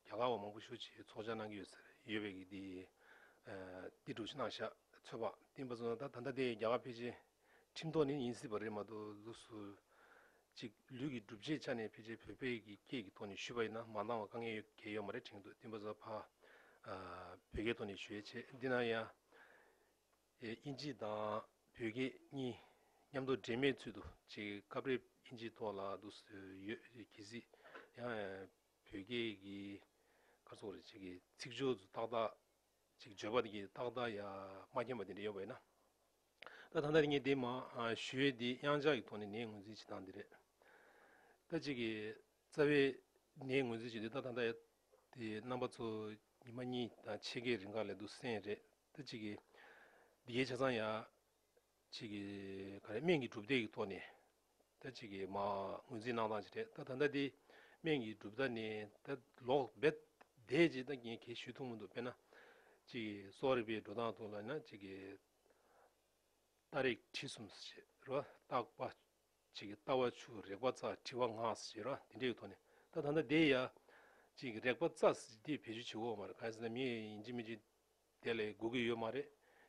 རྒྱ་གར་བ་མང་པོ་ཞུ་བྱེད་ཚོགས་བཅར་གནང་གི་ཡོད་ཟེར་ཡོད་པའི་གི་དེ་དེ་གྲུབ་ཕྱི་ནང་ཤ་ཚོད་པ་བསྟན་པ་སོང་ད་ད་ལྟ་དེ་རྒྱ་གར་ཕལ་ཆེར་ཁྲིམས་ཐོག་ནས་ཡིན་སྲིད་པ་རེད་མ་གཏོགས་ལུགས་སུ་ཅིག་ལུས་ཀྱི་སྒྲུབ་བྱེད་ཆ་ནས་ཕལ་ཆེར་བོད་པའི་གི་སྐད་ཀྱི་ཐོག་ནས་ཞུས་པ་ཡིན་ན་མ་འདང་བ་དཀའ་ངལ་ཡོད་གལ་ཡོད་མ་རེད་དྲན་འདུག་བསྟན་པ་སོང་ཕ་བོད་སྐད་ཐོག་ནས་ཞུ་ཡས་ཆེ་འདི་ན་ཡང་དབྱིན་ཇི་དང་བོད་སྐད་གཉིས་མཉམ་དུ་འདྲེས་མའི་ཚུལ་དུ་ཅིག་སྐབས་རེ་དབྱིན་ཇི་ཐོག་ལ་ལུགས་སུ་ཡོད་གི་སྲིད་ཡང་བོད་སྐད་ཀྱི་སྐར་ཚོགས་རེ་ཅིག་གི་ཚིག་སྦྱོར་དུ་ཏག་ཏག་ཅིག་བརྗོད་པ་དེ་ཏག་ཏག་ཡང་མ་མཁྱེན་པ་དེ་འདྲ་ཡོད་པ་ཡིན་ན། ད་ཐ་ན་ངས་འདི་མ་ཞུས་དེ་དབྱངས་འཇགས་ཀྱི་ཐོག་ནས་ནས་ངོས་འཛིན་བྱེད་སྟངས་འདི་རེད། ད་ཅིག་གི་རྩ་བའི་ནས་ངོས་འཛིན་བྱེད་དུས་ད་ཐ་ན་དེ་རྣམ་པ་ཚོ་ཉི་མ་གཉིས་དང་ཕྱེད་ཀའི་རིང་ག་ལས་འདུག་སེམས་རེད་ད་ཅིག་གི་འདི་གའི་ཆ་ཚང་ཡང་ཅིག་གིས་ག་རེ་སྨན་གྱི་གྲུབ་བརྡེག་གི་ཐོག་ནས་ད་ཅིག་གིས་མ་ངོས་འཛིན་གནང་སྟངས་ཅིག་རེད་ད་ད་ལྟ་དེ་སྨན་གྱི་གྲུབ་བརྡ་ནི་ད་ལོག་རྦད་དེ་ཅིག་ད་ངས་གས་ཞུས་ཐུབ་མི་འདུག་དཔེར་ན་ཅིག་གིས་སོག་རིལ་པའི་འགྲོ་སྟངས་དུ་ལ་ན་ཅིག་གིས་རྟ་རེག་གྲི་གསུམ་ཟེར་ཞེས་རེད་བརྟག་པ་ཅིག་གིས་རྟ་བ་ཆུ་རེག་པ་རྩ་གྲི་བ་ང་ཟེར་ཞེས་རེད་དེ་འདྲའི་ཐོག་ནས་ད་ད་ལྟ་དེ་ཡ་ཅིག་གིས་རེག་པ་རྩ་ཟེར་ཞེས་དེ་བེད་སྤྱོད་བྱེད་འོས་མ་རེད་གང་ཡིན་ཟེར་ན་མི་ཡིན་གཅིག་མིན་གཅིག་དེ་ལས་དགོས་ཀྱི་ཡོད་མ་རེད།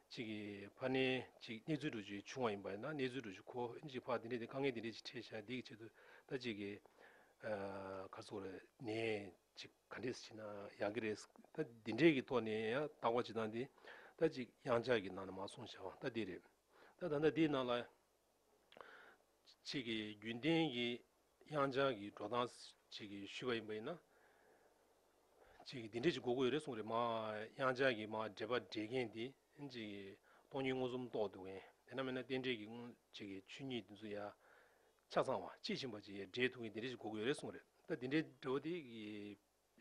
གཅིག་གིས་ཕ་ནི་གཅིག་གནས་ཚུལ་འགྲོ་རྒྱུའི་ཆུང་བ་ཡིན་པ་ཡིན་ན་གནས་ཚུལ་འགྲོ་རྒྱུ་ཁོ་ཨེ་མཆིས་ཕ་དེ་འདྲས་དེ་དཀའ་ངལ་དེ་འདྲས་ཅིག་འཕྲད་བྱས་དེའི་ཆེད་དུ་ད་གཅིག་གིས་གར་སོང་རེད་ནས་ཅིག་ག་འདྲས་བྱས་ན་ཡག་གི་རེད་ད་དེ་འདྲས་ཀྱི་ཐོག་ནས་ཡང་བརྟག་པ་བྱེད་སྟངས་དེ་ད་གཅིག་གཡང་ཆགས་ཀྱི་ནང་ན་མ་སོང་བྱ་བ་ད་དེ་རེད། ད་ད་ལྟ་དེའི་ནང་ལ། ཅིག་གིས་རྒྱུན་གཏན་གྱི་དབྱང་ཅང་གི་འགྲོ་སྟངས་ཅིག་གིས་ཞུས་པ་ཡིན་པ་ཡིན་ན། ཅིག་གིས་འདི་འདྲས་ཅིག་གོ་དགོས་ཡོད་རེད་གསུངས་རེད་མ། དབྱང་ཅང་གིས་མ་འདྲེས་པ་འདྲེས་མཁན་དེ་ཅིག་གིས་སྟོང་ཉིད་མངོན་སུམ་རྟོགས་འདུག་མཁན་དེ་ན་མེད་ན་རྟེན་འབྲེལ་གྱི་དངོས་ཅིག་གིས་ཆོས་ཉིད་དེ་ཚོ་ཡ། ཆ་ཚང་བ་དཔྱིས་ཕྱིན་པ་ཅིག་ཡ་འདྲེས་ཐུབ་མཁན་དེ་འདྲས་ཅིག་གོ་དགོས་ཡོད་རེད་གསུངས་རེད་ད་འདི་འདྲའི་འདྲ་བོ་དེ་གིས།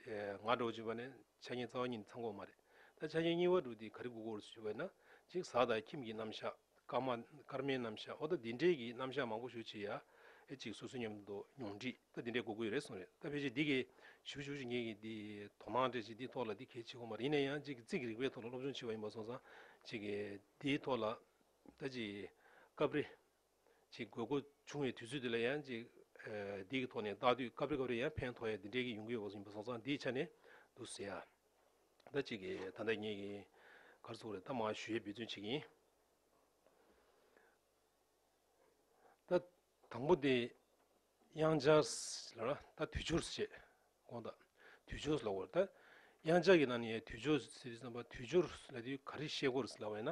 ང་སྒྲོག་ཅེས་པ་ནི་འཆད་ཉན་རྩ་བ་ཉིད་ཚང་འགོག་མ་རེད། ད་འཆད་ཉན་གཉིས་བ་དྲུག་དེ་ག་རེ་དགོས་སྐོར་ཞུ་བས་ན་གཅིག་ཟག་དང་ཁྱིམ་གྱི་རྣམ་གཞག་སྐར་མ་སྐར་མའི་རྣམ་གཞག་འོ་ད་འདི་འདྲས་ཀྱི་རྣམ་གཞག་མང་པོ་ཞུ་ཆེ་ཡ་ཨེ་ཅིག་སོ་སོའི་ཉམས་མདོ་མྱོང་འདྲིས་ད་འདི་འདྲས་དགོས་ཀྱི་རེད་གསུངས་རེད་ད་ཕལ་ཆེར་འདི་གས་ཞུ་བ་ཞུ་བཞིན་མཁན་གྱི་འདི་དོ་སྣང་སྤྲད་ཆེ་འདིའི་ཐོག་ལ་འདི་གལ་ཆེ་གོ་མ་རེད་ཡིན་ན་ཡང་ཅིག་ཙིག་གི་རིག་པའི་ཐོག་ལ་སློབ་སྦྱོང་ཆེ་བ་ཡིན་པ་སོང་ཙང་ཅིག་གིས་འདིའི་ཐོག་ལ་ད་ཅིག་སྐབས་རེ་ཅིག་དགོས་མཁོ་བྱུང་བའི་དུས་ཚོད་དེ་ལ་ཡང་ཅིག་སྡིག་གི་ཐོག་ནས་བརྟག་དུས་སྐབས་རེ་སྐབས་རེ་ཡང་ཕན་ཐོགས་ཡང་འདི་འདྲའི་གི་ཡོང་གི་ཡོད་པ་ཡིན་པ་སོང་ཙང་འདིའི་ཆ་ནས་འདུག་ཟེར་ཡ། ད་ཅིག་གི་ད་ལྟ་ངེད་ཀྱི་གར་ཚོགས་རེ་ད་མ་ཞུ་ཡས་འབུལ་ཚོད་ཅིག་ཡིན། ད་དང་པོ་དེ། དབྱངས་འཆར། ལ་ལ་ད་དུས་འཆོར་ཞེས་དགོངས་དང། དུས་འཆོར་ལ་བར་ད། དབྱངས་འཆར་གྱི་ནང་ནས་དུས་འཆོར་ཟེར་དུས་བསམ་པ་དུས་འཆོར་ལ་དུས་ག་རེ་ཤེས་སྐོར་ལ་བས་ན།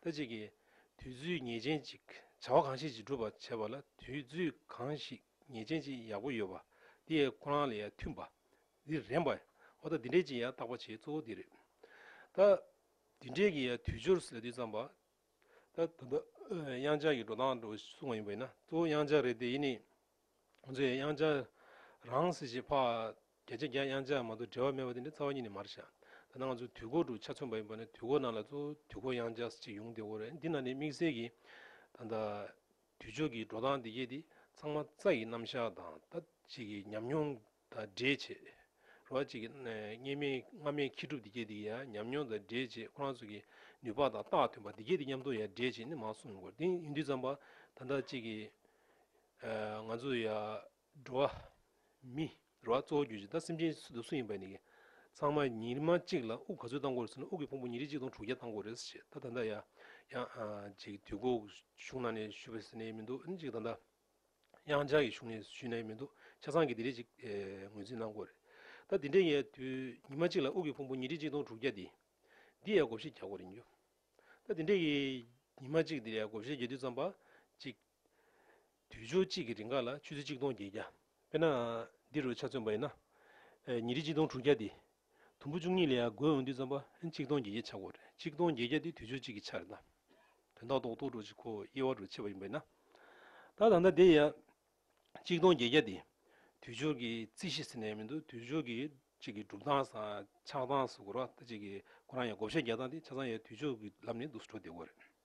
ད་ཅིག་གིས་དུས་ཚོད་ངེས་ཅན་ཅིག་བྱ་བ་གང་ཞིག་ཅིག་སྒྲུབ་པར་བྱེད་པ་ལ་དུས་ཚོད་གང་ཞིག་ངེས་ཅན་ཅིག་ཡག་པོ་ཡོད་པ་འདི་ཡང་ཁོ་རང་ལ་ཡང་མཐུན་པ་འདི་རན་པ་འོ་ད་འདི་འདྲས་ཀྱི་ཡང་བརྟག་པ་བྱེད་གཙོ་བོ་འདི་རེད། ད་འདི་འདྲས་ཀྱི་ཡང་དུས་འཆོར་ལ་དུས་བསམ་པ་ད་ལྟ་དབྱངས་འཆར་གྱི་འགྲོ་སྟངས་འགྲོ་གསུང་བ་ཡིན་པ་ཡིན་ན་གཙོ་བོ་དབྱངས་འཆར་རེད་དེ་ཡིན་ནི། ང་ཚོས་དབྱངས་འཆར་རང་སྲིད་ཞིག་འཕགས་རྒྱ་ཆེ་རྒྱ་དབྱངས་འཆར་མ་གཏོགས་འབྲེལ་བ་མེད་པ་དེ་འདྲའི་རྩ་བ་ཉིད་ནས་མར་བཞག་ད་ནང་ཚོས་དུས་འཁོར་དུ་ཆ་མཚོན་པ་ཡིན་པ་ནི་དུས་འཁོར་ནང་ལ་གཙོ་བོ་དུས་འཁོར་དབྱངས་འཆར་ཅིག་ཡོང་དེ་འོ་རེད་འདི་ནང་ནས་དམིགས་བསལ་གྱིས་ད་ལྟ་དུས་ཕྱོགས་ཀྱི་འགྲོ་སྟངས་འདི་སྐད་དེ་ཚང་མ་རྩ་ཡི་རྣམ་གཞག་དང་ད་ཅིག་གི་ཉམས་མྱོང་དང་འདྲེས་བྱེད། རོ་ཨ་གཅིག་གིས། གཉིས་མེད་ལྔ་མེད་མཁས་གྲུབ་འདི་སྐད་འདི་ཡང་ཉམས་མྱོང་དང་འདྲེས་བྱེད་ཁོ་རང་ཚོ་གི་ནུས་པ་དང་རྟགས་མཐུན་པ་འདི་སྐད་འདི་མཉམ་དུ་ཡང་འདྲེས་བྱེད་ནི་མ་གསུངས་དགོས་དེ་ཡིན་དུས་ཙམ་པ་ད་ལྟ་གཅིག་གིས། ང་ཚོ་ཡ། འགྲོ་བ། མི། རོ་ཨ་གཙོ་བོ་གྱུར་ཅིག་ད་སེམས་ཅན་སུ་ཡིན་པ་ནི། ཚང་མ་ཉིན་མ་གཅིག་ལ་དབུགས་ག་ཚོད་བཏང་དགོས་རེད་ཟེར་ན་དབུགས་ཀྱི་ཕུང་པོ་ཉིན་རེ་གཅིག་དང་དྲུག་བརྒྱ་བཏང་དགོས་རེད་ཟེར་བཤད་ད་ད་ལྟ་ཡ། ཡང། ཅིག་དུས་འགོ་གཞུང་ནང་ནས་ཞུས་པ་ཟེར་ནས་ཡེ་མི་འདུག་ཅིག་ད་ལྟ། དབྱང་ཅང་གིས་གཞུང་ནས་ཞུས་ན་ཡོད་མི་འདུག་ཆ་ཚང་གིས་འདི་རེད་ཅིག་ངོས་འཛིན་གནང་དགོས་རེད། ད་འདི་འདྲའི་ངའི་དུས་ཉི་མ་གཅིག་ལ་དབུགས་ཀྱི་ཕུང་པོ་ཉིས་ཁྲི་གཅིག་སྟོང་དྲུག་བརྒྱ་འདི། འདི་ཡའི་བགོ་བཤའི་རྒྱ་སྒོ་རེད་འགྱུར། ད་འདི་འདྲའི་ཉི་མ་གཅིག་འདི་ཡའི་བགོ་བཤའི་རྒྱ་དུས་རྩམ་པ་གཅིག། དུས་ཆུ་གཅིག་གི་རིང་ཁ་ལ་ཆུ་ཚོད་གཅིག་སྟོང་བརྒྱད་བརྒྱ། དཔེར་ན། འདི་རུ་ཆ་མཚོན་པ་ཡིན་ན། ཉིས་ཁྲི་གཅིག་སྟོང་དྲུག་བརྒྱ་དེ། དུམ་བུ་བཅུ་གཉིས་ལས་བགོས་འོང་དུས་རྩམ་པ་གཅིག་སྟོང་བརྒྱད་བརྒྱ་ཆག་གོ། གཅིག་སྟོང་བརྒྱད་བརྒྱ་དེ་དུས་ཚོད་གཅིག་གི་ཆ་རེད་ལ། དོན་དག་རྡོག་རྡོག་འགྲོ་གཅིག་ཁོ་དབྱེ་བ་རུ་ཕྱེ་བ་ཡིན་པ་ཡིན་ན། ད་ད་ལྟ་དེ་ཡང། གཅིག་སྟོང་བརྒྱད་བརྒྱ་དེ། དུས་སྦྱོར་གྱི་རྩིས་གཞི་ཟེར་ནའི་མི་འདུག་དུས་སྦྱོར་གྱི་གཅིག་གི་གྲུབ་སྟངས་སམ་ཆགས་སྟངས་སུ་གོ་ར་ལྟ་གཅིག་གི་གོ་རང་ཡང་བགོ་བཤའི་རྒྱག་སྟངས་དེ་ཆ་ཚང་ཡང་དུས་སྦྱོར་གྱི་ལམ་ནས་འདུག་སུ་འགྲོ་བདེ་བོ་རེད།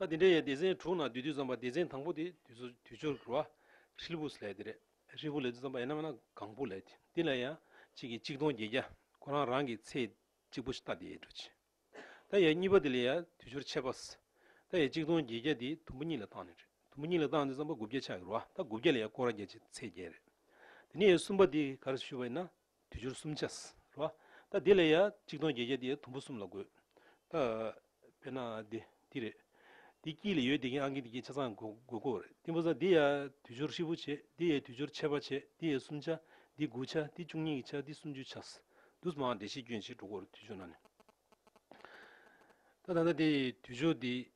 ལ། དེ་འདྲའི་ཡང་སྡེ་ཚན་དྲུག་ནང་བདུད་རྡུལ་ཙམ་པ་སྡེ་ཚན་དང་པོ་དེ་དུས་སྦྱོར་གྱི་རོ། ཧྲིལ་བུ་ལས་དེ་རེད། ཧྲིལ་བུ་ལས་དུས་ཙམ་པ་ཡིན་ནམ་ཡང་ན་གང་བུ་ལས་དེ་འདི་ལ་ཡང་གཅིག་གིས་གཅིག་སྟོང་བརྒྱད་བརྒྱ་ཁོ་རང་རང་གི་ཚེ་གཅིག་པུ་ཤྟ་དེའི་འགྲོ་བྱེད། ད་ཡའི་གཉིས་པ་དེ་ལས་ཡང་དུས་སྦྱོར་ཆད་པ། ད་ཡའི་གཅིག་སྟོང་བརྒྱད་བརྒྱ་དེ་དུམ་བུ་གཉིས་ལ་བཏང་ནས་རེད་དུམ་བུ་གཉིས་ལ་བཏང་དུས་ཙམ་པ་དགུ་བརྒྱ་ཆགས་ཀྱི་རོ་ད་དགུ་བརྒྱ་ལས་ཡང་སྐོར་བརྒྱ་ཆེ་ཚེ་བརྒྱད་རེད། དེ་ནས་ཡའི་གསུམ་པ་དེ་ག་རེ་སུ་ཞུས་པ་ཡིན་ན། དུས་སྦྱོར་གསུམ་བྱ། རོ། ད་འདི་ལ་ཡང་གཅིག་སྟོང་བརྒྱད་བརྒྱ་དེ་དུམ་བུ་གསུམ་ལ་དགོས། ད། དཔེར་ན། འདི་རེད། འདི་དཀྱིལ་ལ་ཡོད་དེ་གིན་ཨང་ཀི་འདི་དཀྱིལ་ཆ་ཚང་དགོས་དགོས་རེད་ཏིང་བུ་ཚང་འདི་ཡང་དུས་སྦྱོར་ཧྲིལ་བོ་བྱེད་འདི་ཡང་དུས་སྦྱོར་ཆད་པ་བྱེད་འདི་ཡང་གསུམ་བྱ་འདི་དགུ་བྱ་འདི་བཅུ་གཉིས་བྱ་འདི་སུམ་ཅུ་བྱ། དུས་མང་བདེ་གཤེགས་སྐྱོན་བྱེད་དྲུག་གོ་རེ་དུས་སྦྱོར་ན་ནི། ད་ད་ལྟ་དེ་དུས་སྦྱོར་འདི།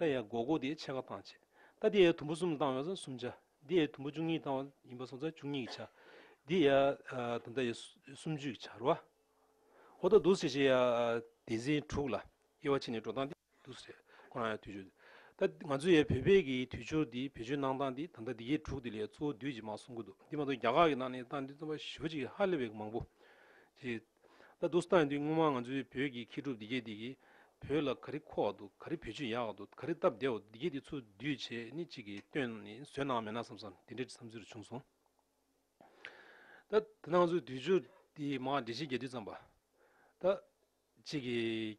རྟ་ཡའི་མགོ་སྐོར་དེའི་ཕྱེད་ཀ་བཏང། རྟ་འདི་ཡའི་དུམ་བུ་གསུམ་བཏང་བས་སོ་གསུམ་ཆ། འདི་ཡའི་དུམ་བུ་བཅུ་གཉིས་བཏང་བ་ཡིན་པས་སོ་ཚ་བཅུ་གཉིས་ཀྱི་ཆ། འདི་ཡའི་དུམ་རྟ་ཡའི་སུམ་ཅུའི་ཆ་རུ། ཧོ་ད་དུ་སེ་ཤེ་ཡ་དེ་འཛིན་དྲུག་ལ་དབྱེ་བ་ཕྱེ་ནས་འགྲོ་སྟངས་འདི་དུ་ཟེར། ཁོ་རང་ཡའི་དུས་སྦྱོར། ད་ང་ཚོ་ཡའི་བོད་སྤེལ་གྱི་དུས་སྦྱོར་འདི་བེད་སྤྱོད་གནང་སྟངས་འདི་ད་ལྟ་འདི་གའི་དྲུག་དེ་ལས་གཙོ་བོ་བདུད་ཀྱི་མ་གསུང་གི་འདུག་འདི་མ་གཏོགས་རྒྱ་གར་གྱི་ནང་ནས་སྟངས་འདི་རྩོམ་པ་ཞིབ་པོ་ཅིག་ཧ་ལས་པའི་མང་པོ། ད་དུ་སྟངས་འདི་སྔོན་མ་ང་ཚོའི་བོད་ཀྱི་མཁས་གྲུབ་སྡེ་བརྒྱད་འདི་གིས་བོད་ལ་ག་རི་ཁོག་ཏུ་ག་རི་བོད་ཆུ་ཡག་ཏུ་ག་རི་སྟབས་བདེ་བ་འདི་བརྒྱད་འདི་ཚོ་སྡུད་བྱེད་ནི་གཅིག་གིས་བཏོན་ནས་བཟོས་གནང་མེད་ན་བསམ་བསམ་དེ་འདྲའི་བསམ་ཚུལ་བྱུང་སོང། ད་དེ་ནང་ཚོའི་དུས་སྦྱོར་འདི་མ་འདྲེས་ཤིང་རྒྱས་བསྡུས་ཙམ་པ། ད་གཅིག་གིས།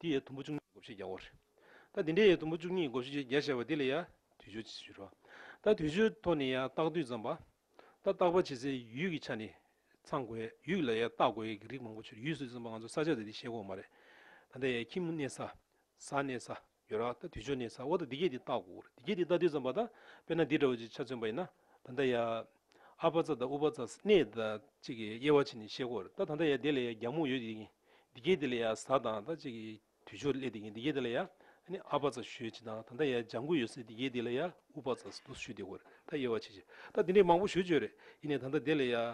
འདི་ཡི་དུམ་བུ་བཅུ་གཉིས་ཀྱི་བགོ་བཤའི་རྒྱ་བོར། ད་དེ་འདྲའི་ཡི་དུམ་བུ་བཅུ་གཉིས་ཀྱི་བགོ་བཤའི་རྒྱ་བཤད་པ་འདི་ལ་ཡང་དུས་སྦྱོར་གྱིས་བཞུར་བ། ད་དུས་སྦྱོར་ཐོག་ནས་ཡང་བརྟག་དུས་ཙམ་པ། ད་བརྟག་པ་བྱེད་སའི་ཡུལ་གྱི་ཆ་ནས་ཚང་དགོས་ཡུལ་ལ་ཡང་བརྟག་དགོས་ཡུལ་གྱི་རིགས་མང་པོ་ཆུར་ཡུལ་སུད་ཙམ་པ་ང་ཚོ་ས་ཆ་དེ་དེ་ཤེས་དགོས་མ་རེད། ད་ལྟ་ཡང་ཁྱིམ་གནས་ས། ཟ་གནས་ས། ཡོད་ར་ད་དུས་སྦྱོར་གནས་ས་འོག་ཏུ་འདི་སྐད་དེ་བརྟག་དགོས་འདི་སྐད་དེ་བརྟག་དུས་ཙམ་པ་ད་དཔེར་ན་འདི་འདྲ་བོ་ཅིག་ཆ་མཚོན་པ་ཡིན་ན། ད་ལྟ་ཡང། ཨ་བྷ་ཙཱ་དང་ཨུ་བྷ་ཙཱ་སྣེ་དང་གཅིག་གིས་དབྱེ་བ་ཕྱེ་ནས་བཤད་སྐོར་ད་ད་ལྟ་ཡང་དེ་ལ་ཡང་རྒྱང་མོ་ཡོད་ཀྱིས་འདི་སྐད་དེ་ལ་ཡང་གཟའ་དང་ད་གཅིག་གིས་དུས་སྦྱོར་སླེ་དེ་ཀྱིས་འདི་སྐད་དེ་ལ་ཡང་ཨ་བྷ་ཙཱ་ཞུས་ཅི་དང་ད་ད་ཡང་ལྗང་གུ་ཡོད་སའི་འདི་སྐད་དེ་ལ་ཡང་ཨུ་བྷ་ཙཱ་སུ་ཞུས་དེ་སྐོར་ད་དབྱེ་བ་ཕྱེ་ཕྱིར་ད་འདི་འདྲའི་མང་པོ་ཞུས་བྱོས་རེད་ཡིན་ནས་ད་ལྟ་དེ་ལ་ཡང་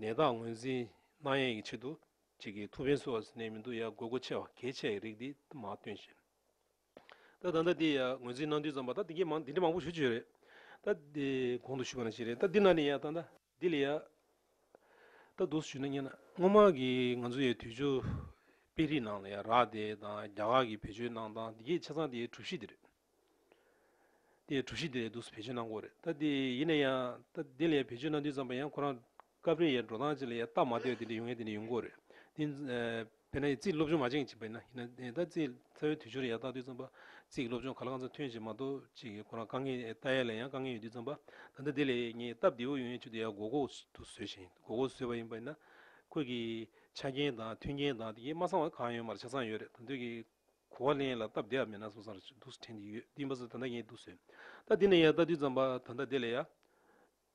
ནད་རྟགས་ངོས་འཛིན་གནང་ཡས་ཀྱི་ཆེད་དུ་གཅིག་གིས་ཐུ་བྷེན་སུའ་བ་སུ་སྣེ་མི་འདུག་ཡ་དགོས་མཁོ་ཆེ་བ་གལ་ཆེ་བའི་རིགས་འདི་མ་སྟོན་བཞིན། ད་ད་ནི་ཡ་ངོས་འཛིན་གནང་དུས་ཙམ་པ་ད་འདི་འདྲི་མང་པོ་ཞུ་ཆོས་རེད། ད་དེ་གོང་དུ་ཞུས་པ་ན་ཞིག་རེད་ད་འདི་ན་ནི་ཡ་ད། འདི་ལ་ཡ། ད་རྡོ་སུ་ཞུས་ན་སྙན་ན་སྔོན་མ་གི་ང་ཚོ་ཡ་དུས་ཆུ་དཔེ་རིས་ནང་ལ་ཡ་རག་དེ་དང་རྒྱ་གར་གི་བེད་སྤྱོད་གནང་སྟངས་འདི་གས་ཆ་ཚང་དེ་ཡའི་གྲུ་བཞི་དེ་རེད། དེ་ཡའི་གྲུ་བཞི་དེ་ལ་རྡོ་སུ་བེད་སྤྱོད་གནང་དགོས་རེད་ད་དེ་ཡིན་ན་ཡང་ད་འདི་ལ་ཡ་བེད་སྤྱོད་གནང་དུས་ཙམ་པ་ཡང་ཁོ་རང་སྐབས་རེ་ཡའི་འགྲོ་སྟངས་ཅིག་ལ་ཡའི་རྟགས་མ་ལྟོས་དེ་འདྲ་ཡོང་ཡས་དེ་འདྲ་ཡོང་གོ་རེད། དེ་དཔེར་ན་ཡའི་རྩིས་སློབ་སྦྱོང་མ་བྱེངས་ཅིག་པས་ན་ཡིན་ན་ད་རྩིས་ཚ་བའི་དུས་ཆུང་རེ་ཡའི་རྟགས་དུས་བརྩམས་པ། རྩིས་ཀྱི་སློབ་སྦྱོང་ག་ལ་གང་ཚ་ཐུན་ཅིག་མ་གཏོགས་ཅིག་གི་ཁོ་རང་དཀའ་ངལ་རྟགས་ཡས་ལས་ཡང་དཀའ་ངལ་ཡོད་དུས་བརྩམས་པ། ད་ལྟ་དེ་ལས་ངས་སྟབས་བདེ་བོ་ཡོང་ཡས་ཆུ་དེ་ཡའི་མགོ་ཁོག་ཏུ་བཟོས་ཤིང་མགོ་ཁོག་བཟོས་པ་ཡིན་པས་ན། ཁོད་ཀྱི་ཆ་རྐྱེན་དང་མཐུན་རྐྱེན་དང་དེ་གས་མ་ཚང་བ་གང་ཡོད་མར་ཆ་ཚང་ཡོད་རེད་ད་འདོད་ཀྱི། གོ་བ་ལེན་ལ་སྟབས་བདེ་བ་མེད་ན་སོང་སར་འདུག་སུ་དྲན་གྱི་ཡོད་དུས་མ་བཟོས་ད་ལྟ་ངས་འདུག་བཟོས། ད་དེ་ནས་ཡའི་རྟགས་དུས་བརྩམས་པ་ད་ལྟ་དེ་ལས་ཡ།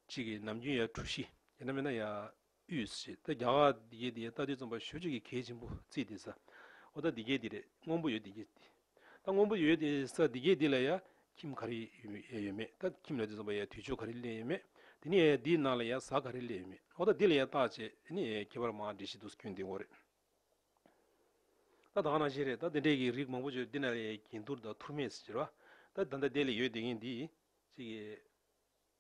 གཅིག་གིས་ནམ་རྒྱུན་ཡར་གྲུ་བཞི་ཡིན་ན་མེད་ན་ཡར་དབུས་བཞི་ད་རྒྱ་གར་འདི་རྒྱལ་འདི་རྒྱལ་རྟ་དུས་རྩོམ་པ་ཞོལ་ཆོས་ཀྱི་གལ་ཆེན་པོ་རྩིས་འདི་ས་འོ་ད་འདི་རྒྱལ་འདི་རེད་སྔོན་པོ་ཡོད་འདི་རྒྱལ་འདི་ད་སྔོན་པོ་ཡོད་འདི་ས་འདི་རྒྱལ་འདི་ལ་ཡར་ཁྱིམ་ག་རེ་ཡོད་མེད་ད་ཁྱིམ་ལ་དུས་རྩོམ་པ་ཡར་དུས་མཆོད་ག་རེ་གླས་ཡོད་མེད་དེ་ནས་ཡར་འདིའི་ནང་ལ་ཡར་ཟག་ག་རེ་གླས་ཡོད་མེད་འོ་ད་འདི་ལ་ཡར་བརྟག་བྱས་དེ་ནས་ཡར་ཁྱད་པར་མང་འདྲེས་བཞི་འདུག་སྐྱོན་འདི་འོ་རེད་ད་དག་ན་བཞི་རེད་ད་འདི་འདྲས་ཀྱི་རིགས་མང་པོ་བརྗོད་འདི་ན་ལ་ཡར་གྱེན་བསྡུར་དང་ཐུར་མས་ཟེར་བ་ད་ད་ད་འདི་ལ་ཡོད་འདི་ངས་འདི་གཅིག་གིས།